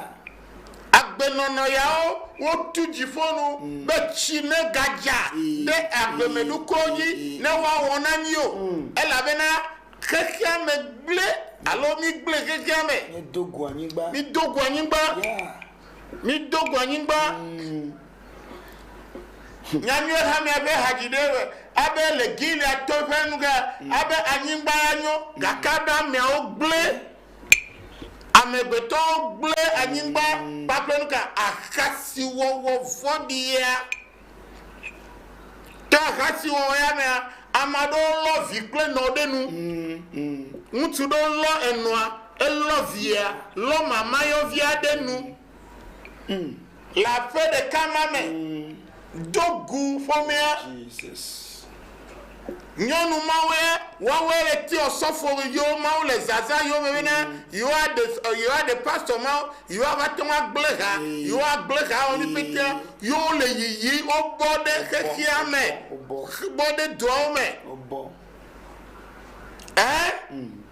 [SPEAKER 3] Agbenɔnɔ yawo wotu dziƒo nu be tsi megadza Mm. ɖe agbemenukuwo dzi Mm. ne woawɔ na mí o. Mm. Elabena xexea me gblẽ alo mígblẽ xexea me. Míedo go anyigba. Mído go anyigba. Ya. Mido go anyigba. Nya nyuie ha miaƒe hadzi ɖe be, abe le Gilead to ƒe nu ke, abe anyigba ya nyo, gake be ameawo gblẽ, amegbetɔwo gblẽ anyigba kpakple nu ka, ahasiwɔwɔ vɔ̃ɖi ya. Ke ahasi wɔwɔ ya mea, ame aɖewo lɔ vi kple nɔ ɖe nu. Ŋutsu ɖewo lɔ enɔa, elɔ via, lɔ mamayɔvia ɖe nu. Le aƒe ɖeka ma me, do gu ƒomea. Nyɔnu mawe wɔwɔe le tiɔ sɔfo yo mawo le zaza yo me bena yewoa ɖe yewoa ɖe pastor mawo yewoa va te ŋua gble ha yewoa gble ha wɔmi mm. petea yo wo le yiyi wo bɔ ɖe xexia me bɔ ɖe doawo me ɛ mm.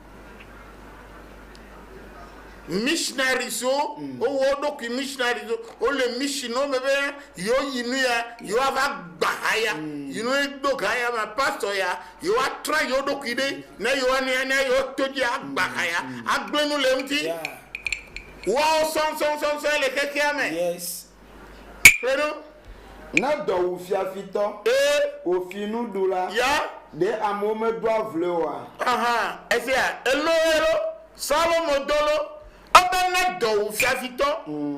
[SPEAKER 3] missionaries wo wowɔ wo ɖokui missionaries wo wole mission wo me be yewoyi nu ya yewoava gba ha ya yi nu do ga ya ma pastor ya yewoatra yewo ɖokui ɖe ne yewoania ne yewoto dzi agba ha ya agblẽ nu le eŋuti Yeah. woawo sɔnsɔnsɔnsɔn le xexea me Yes. Kpe ɖo. Ne
[SPEAKER 2] dɔ wu fiafitɔ. Ee. Wò finuɖula. Ya. Ɖe
[SPEAKER 3] amewo
[SPEAKER 2] medoa vloe oa? Ahan, efia,
[SPEAKER 3] elo ye ɖo. Salomo do lo. Ebe ne dɔ wu fiafitɔ,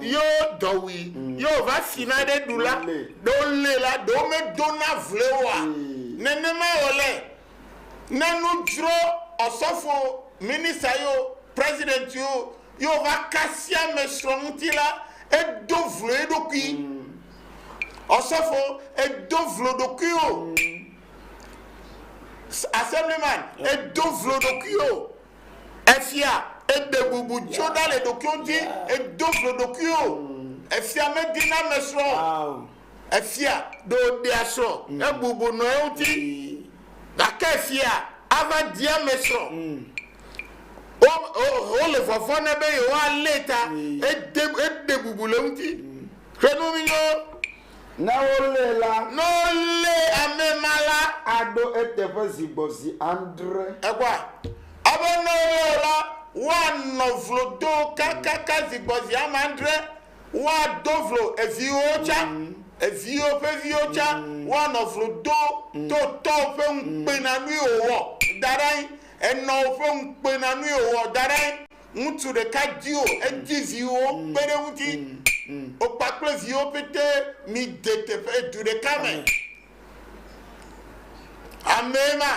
[SPEAKER 3] ye wo dɔ wui, ye wòva fina ɖe ɖula, ɖe wolée la, ɖe womedona vloe oa? Nenema wòle. Ne nu dzro ɔsɔfo, minista yo, president yo, ye wòva kasia ame srɔ̃ ŋuti la, edo vlo eɖokui. Ɔsɔfo, èdo vlo ɖokuiwò. Assemblyman, èdo vlo ɖokuiwò. Efia, èɖe bubu tso ɖa le ɖokuiwò ŋuti, èdo vlo ɖokuiwò. Efia medina ame srɔ̃ o. Efia ɖo ɖea srɔ̃ hebubu nɔ eŋuti, gake efia ava di ame srɔ̃. Wo, wo, wole vɔvɔ̃ nɛ be yewoalée ta hede, hede bubu le eŋuti. Xlẽ nu nyuie. Ne
[SPEAKER 2] wolée la. Ne wolé
[SPEAKER 3] ame ma la. Aɖo eteƒe
[SPEAKER 2] zi gbɔ zi adre. Ekpɔa?
[SPEAKER 3] Ebe ne wolée o la, woanɔ vlo do kakaka zi gbɔ zi ame adre. Woado vlo eviwo tsã, eviwo ƒe viwo tsã, woanɔ vlo do to tɔwo ƒe ŋukpenanui wòwɔ da ɖe anyi, enɔwo ƒe ŋukpenanui wòwɔ da ɖe anyi. Ŋutsu ɖeka diwo, edi viwo kpe ɖe eŋuti. Wò kpakple viwo pɛtɛ mide teƒe, du ɖeka me. Amee ma.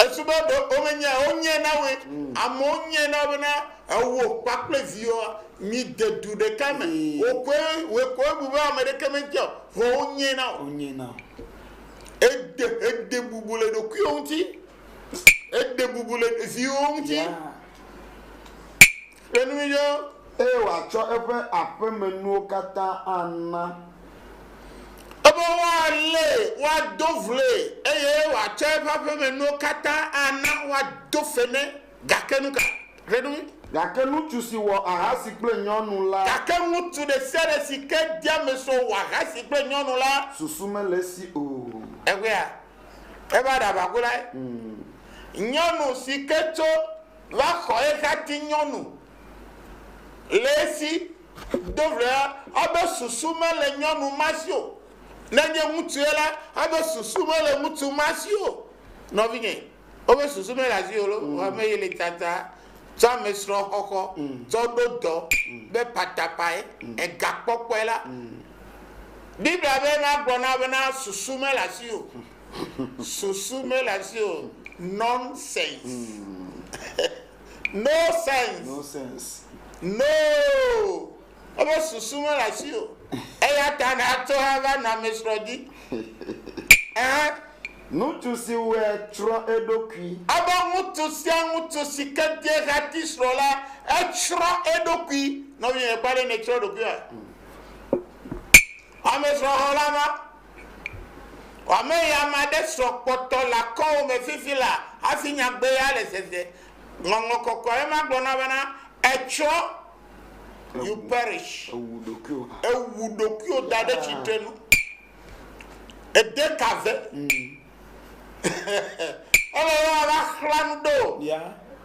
[SPEAKER 3] Esu be ɖe womenyae o, wonyae na woe. Amewo nyae na wo bena ewò kpakple viwòa miede du ɖeka me. Wò koe, wòe koe wobu be ame ɖeke metiae o, vɔ wonyae na wò. Ède, ède bubu le ɖokuiwò ŋuti. Ède bubu le viwòwo ŋuti. Ƒe nu yɔ, eye wòatsɔ
[SPEAKER 2] eƒe aƒemenuwo katã ana. Ebe
[SPEAKER 3] woalée, woado vloe, eye wòatsɔ eƒe aƒemenuwo katã ana, woado fe nɛ. Gake nu ka? Ƒe nu. Gake ŋutsu
[SPEAKER 2] si wɔ ahasi kple nyɔnu la. Gake ŋutsu ɖe sia
[SPEAKER 3] ɖe si ke de ame sɔ wɔ ahasi kple nyɔnu la. Susu mele esi o.
[SPEAKER 2] Egbea,
[SPEAKER 3] eva ɖe aʋaku lae. Nyɔnu si ke tso. va xɔ ehati nyɔnu le esi. Do ʋlea, ebe susu mele nyɔnu ma si o. Ne enye ŋutsue la, ebe susu mele ŋutsu ma si o. Nɔvinye, wobe susu mele asiwò lo, vɔ ame ye le tsatsa tsɔ amesrɔ̃ xɔxɔ tsɔ ɖo dɔ be patapae, egakpɔkpɔe la, Biblia be na gblɔ na wo bena susu mele asiwò. Susu mele asi o. Nonsense. No sense. No sense. No. Ebe susu mele asi o. Eya ta nàtsɔ ava nɔ amesrɔ̃ dzi. Ɛhɛ.
[SPEAKER 2] Ŋutsu si wɔe tsrɔ̃ eɖokui. Ebe ŋutsu
[SPEAKER 3] sia ŋutsu si ke de hati srɔ̃ la, etsrɔ̃ eɖokui. Nɔvinye, èkpɔe ɖe nètsrɔ̃ ɖokuiwòa? Amesrɔ̃xɔla ma. Ame ya ame aɖe sɔ kpɔtɔ le akɔwò me fifi la hafi nyagbe ya le zeze. Ŋɔŋlɔ kɔkɔe aɖe ma gblɔ na bena, Etsɔ, you perish. Ewu ɖokuiwò. Ewu ɖokuiwò da ɖe tsitre nu. Ede ka ve. Ele be woava xlã nu ɖe wò. Ya.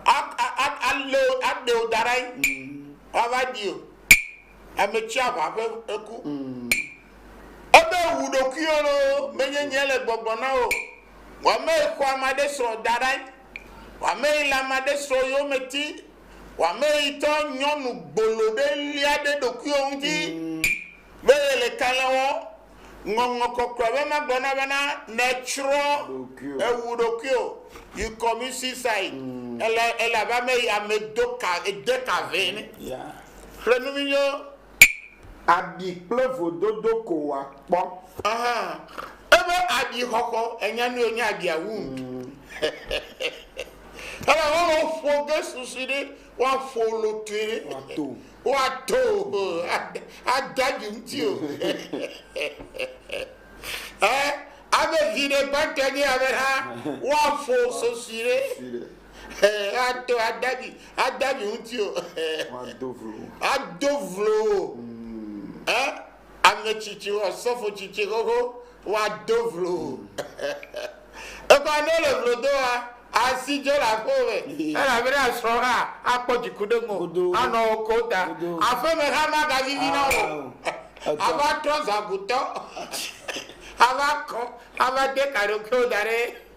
[SPEAKER 3] A, a,
[SPEAKER 2] a, alé wò, aɖe
[SPEAKER 3] wò da ɖe anyi. Woava ɖi wò. Ame tsi aʋa ƒe eku. Ebe wu ɖokuiwò loo, menye nye le gbɔgblɔ na wò. Wò amee xɔ ame aɖe srɔ̃ da ɖae, wò amee le ame aɖe srɔ̃ yome ti, wò amee yi tsɔ nyɔnu gbolo ɖe lia ɖe ɖokuiwò ŋuti be yele kalẽ wɔm. Ŋɔŋlɔ Kɔkɔe be magblɔ na bena, nètsrɔ̃ ɖokuiwò. Èwu ɖokuiwò. You commit suicide. Èle, èle abe ame yi, ame do ka, ede ka vɛ ene. Yeah.
[SPEAKER 2] Xlẽ nu mi nyo. abi kple vododo ko wòakpɔ. Aha,
[SPEAKER 3] ebe abi xɔxɔ, ènya nu ye wonye abia wound. Elabe ne woƒo ge susu ɖe, woaƒo lotue ɖe, Woato. woato, o, ade- ade abi ŋuti o. Ɛ, abe viɖe gbãtɔe nye ya be hã, woaƒo sosui ɖe. Sosui ɖe. ato adavi adavi ŋuti o ado vlo o ame tsitsi asɔfo tsitsi xoxo woado vlo o ekɔ ne le vlo do wa asi dze le aƒe me elabena srɔ hã akpɔ dziku ɖe ŋu anɔ ko ta aƒe me hã magavivi na o ava trɔ zagutɔ ava kɔ ava de kaɖokewo da ɖe.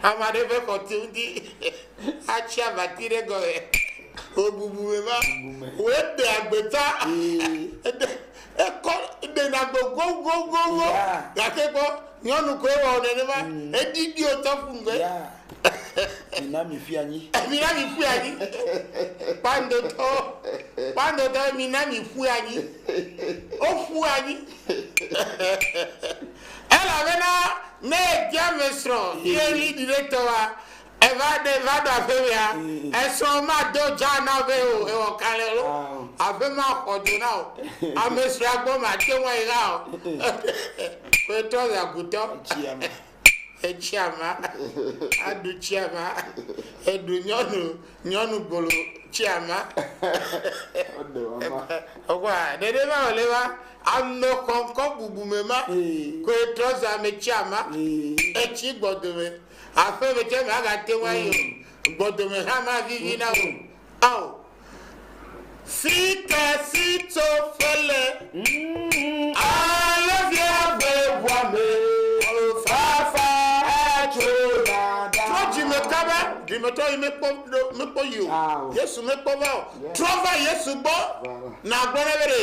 [SPEAKER 3] Ama ɖe ƒe xɔti ŋuti atsi abati ɖe gɔme. Wòbubu me va. Wòde agbeta. Ekɔ ɖena gbe gogogogo. Gake kpɔ, nyɔnu koe wɔ nenema. Mm. Eɖiɖi wòtɔ ƒu ŋgbe.
[SPEAKER 2] Mina mi ƒui anyi. Mina mi ƒui anyi.
[SPEAKER 3] Kpandotɔ. Kpandotɔ, mina mi ƒui anyi. Woƒu anyi. Elabena ne via me srɔ̃ ye ɣli ɖi ɖe tɔa, eva ɖe va ɖo aƒe mea, esrɔ̃ mado dza na be o ewɔ kalẽ alo aƒe maxɔ do na o. Ame srɔ̃a gbɔ mate ŋu ayi hã o. Koe trɔ zã gutɔ. Etsi ama. Aɖu tsi ama. Eɖu nyɔnu nyɔnu gbolo tsi ama. Ɔkwa, ɖeɖe va wòle va. Ame xɔŋkɔ bubume ma koe trɔ zã me tsia ma. Etsi gbɔdome aƒeme tsɛ magate ŋu ayi o. Gbɔdome hã mavivi na wò o. Sika si tso fele alo viagbe ʋua me o fafa atso dada. Trɔ dzi me kaba. Ɖimetɔ yi mekpɔ ɖo mekpɔ yi o. Yesu mekpɔ va o. Trɔ va Yesu gbɔ. Nàgblɔ nɛ be ɖe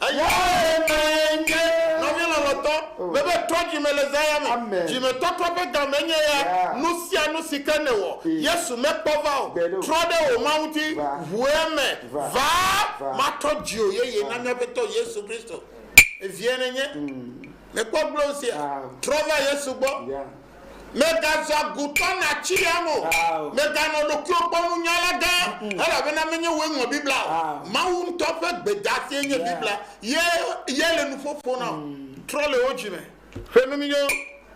[SPEAKER 3] Eya ɣemaɣie nye nɔvia lɔlɔtɔ mebe trɔ dzime le zã ya me. Dzimetɔtrɔ ƒe gamee nye ya, nusianu sike nèwɔ Yesu mekpɔ va o, trɔ ɖe wò Mawu ŋuti, ʋu eme, va, matrɔ dziwò yeye na Miaƒetɔ Yesu Kristo. Evie nènye? Mèkpɔ gblonsia? Trɔ va Yesu gbɔ. Mègaze agutɔ nàtsi ya me o. Mèganɔ ɖokuiwò gbɔ nunyala gã, elabena menye wòe ŋlɔ Biblia o. Mawu ŋutɔ ƒe gbedasie nye Biblia, ye yae le nuƒo ƒom na wò. Trɔ le wò dzi me ƒe nu nyuiwo.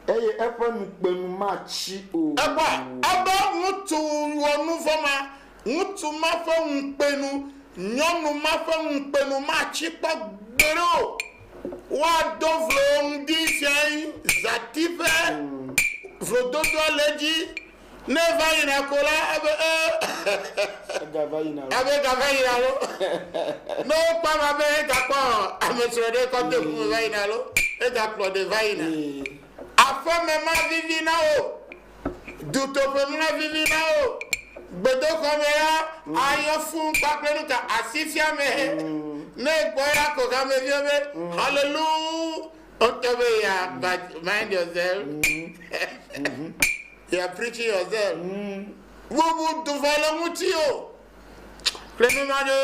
[SPEAKER 3] Eye
[SPEAKER 2] eƒe nukpenu matsi o. Ekpɔa? Ebe
[SPEAKER 3] ŋutsu wɔ nuvɔ̃ ma. Ŋutsu ma ƒe ŋukpenu, nyɔnu ma ƒe ŋukpenu matsi kpɔ gbeɖe o. Woado vlo wo ŋdi siae zãti ƒe vlododoa le edzi. Ne eva yina ko la, abe ee Egava yina loo. abe gava yina lo. Ne wokpɔ ame abe egakpɔ amesrɔ̃ ɖe kɔ de ŋu me va yina lo, egakplɔ ɖe va yina. Ee. Aƒeme mavivi na wo. Dutoƒeŋlɔ vivi la o. Gbedoxɔ me la ayɔ fũu kpakple nu ka? Asifiame. Ne ekpɔ ya ko hameviwo be, Hallelujah! Woŋtɔ be you are but mind yourself. You are preaching yourself. Bubu du vɔ le ŋutiwò. kple nunya ɖo.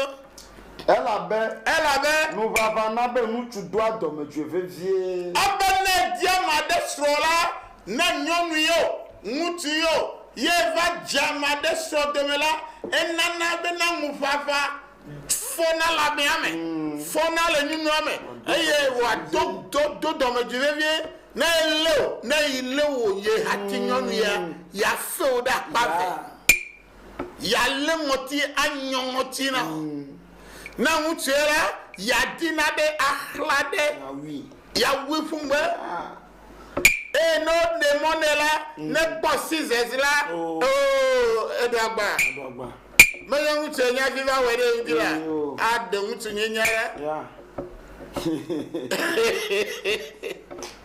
[SPEAKER 2] Elabe. Elabe. Nuvava na be ŋutsu doa dɔmedzoe vevie. Ebe ne edi
[SPEAKER 3] ame aɖe srɔ̃ la, ne nyɔnui o, ŋutui o, ye va dze ame aɖe srɔ̃ dome la, enana bena ŋuvava fɔna le amea me, fɔna le nyunyua me, eye wòado do, do dɔmedzoe vevie. Ne elé wò, ne yi lé wò, ye hati nyɔnuia, ya fe wò ɖe akpa eve. yealé ŋɔti anyɔ ŋɔti na wo. Ne ŋutsu ye la, yeadina be axla ɖe, yeawui ƒu ŋugbe. Eye ne woɖe mɔ nɛ la, nekpɔ scissors la, oo, eɖo agba. Menye ŋutsu ye nye hafi va wɔe ɖe eŋuti la, aɖe ŋutsunyenya ɖa.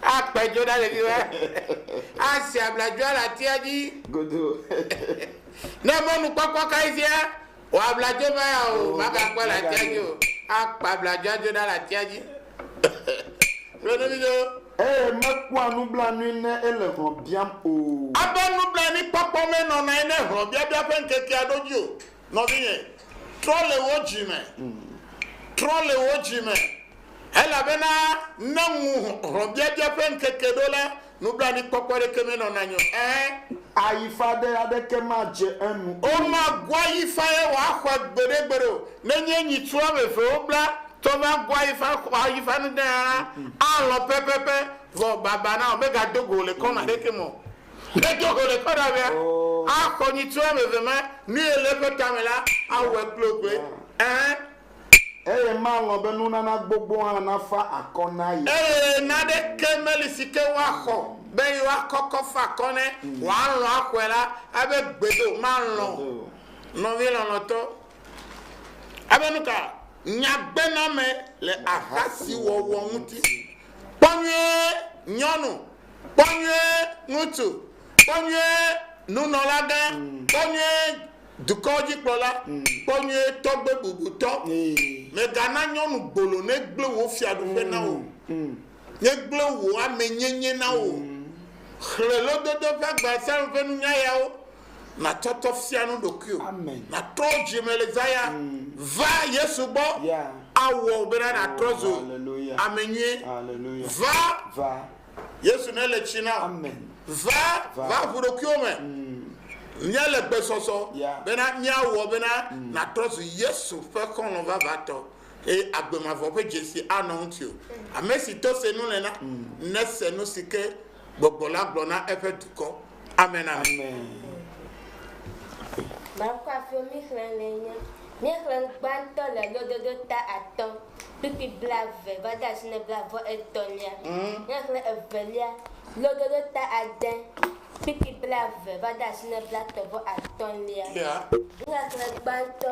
[SPEAKER 3] Akpe dzo na ɖeviwo. Asi abladzoa le atia dzi. Godo. Ne mɔnukpɔkpɔ kae fia wò abladzo va ya o, oh, magakpɔe le atia dzi o. Akpe abladzoa dzo na le atia dzi. Ɖo nu vidzo. Eye mekpɔa
[SPEAKER 2] nublanui ne ele hlɔ̃ biam o. Eƒe nublanuikpɔkpɔ
[SPEAKER 3] menɔna anyi ne hlɔ̃biabia ƒe ŋkekea ɖo dzi o. Nɔvinye, trɔ le wò dzi me, trɔ le wò dzi me, elabena ne ŋu hlɔ̃biabia ƒe ŋkeke ɖo la, nublanuikpɔkpɔ aɖeke menɔ na nye o. Ẽ. Ayifa
[SPEAKER 2] ɖe aɖeke madze enu o. Womagu
[SPEAKER 3] ayifa ye wòaxɔe gbeɖegbeɖe o. Nenye nyitsu woame eve wobla tɔ va gu ayifa xɔ ayifa nu ɖe hã la, alɔ̃ pɛpɛpɛ, vɔ baba na wò, megado go wò le kɔnu aɖeke me o. Ne do go le kpe ɖavea, axɔ nyitsua ame eve ma, nu ye le eƒe tame la, awɔe kple wo kple. Ɛ̃. Eye
[SPEAKER 2] malɔ̃ be nunana gbogbo hã nafa akɔ na ye. Eye naneke
[SPEAKER 3] meli si ke woaxɔ be yewoakɔ kɔ fa akɔ ne wòalɔ̃ axɔe la, abe gbedo, malɔ̃ nɔvi lɔlɔ̃tɔ. Abe nu ka? Nyagbename le ahasiwɔwɔ ŋuti. Kpɔ nyuie, nyɔnu, Kpɔ nyuie ŋutsu, kpɔ nyuie nunɔlagã, kpɔ nyuie dukɔwo dzikplɔla, kpɔ nyuie tɔgbe bubutɔ. Mègana nyɔnu gbolo negblẽ wò fiaɖuƒe na wò o, negblẽ wò amenyenye na wò o. Xlẽ Lododo ƒe agba Psalm ƒe nunya yawo. Natsɔtsɔ fia nu ɖokuiwò. Amen. Natrɔ dzi me le zaya. Va Yesu gbɔ. Yeah. Awɔ wò bena natrɔ zu Hallelujah. ame nyui. Hallelujah. Va Va. Yesu ne le tsi na. Amen. Va, Va. va ʋu ɖokuiwò me. Míele gbe sɔsɔ Yeah. bena míawɔ bena natrɔ zu Yesu ƒe xɔlɔ̃ vavãtɔ eye agbe mavɔ ƒe dzesi anɔ ŋutiwò. Ame si to se nu le na, nese nu si ke Gbɔgbɔ la gblɔ na eƒe dukɔ. Amen! Amen!
[SPEAKER 4] Baŋkuafio mixlẽnee nye. Míexlẽ nu gbãtɔ le lododo ta atɔ̃ kpukpui blaeve va de asi na blavɔ etɔ̃lia. Míexlẽ evelia, lododo ta ade kpukpui blaeve va de asi na blatɔ̃ vɔ atɔ̃lia. Míexlẽ gbãtɔ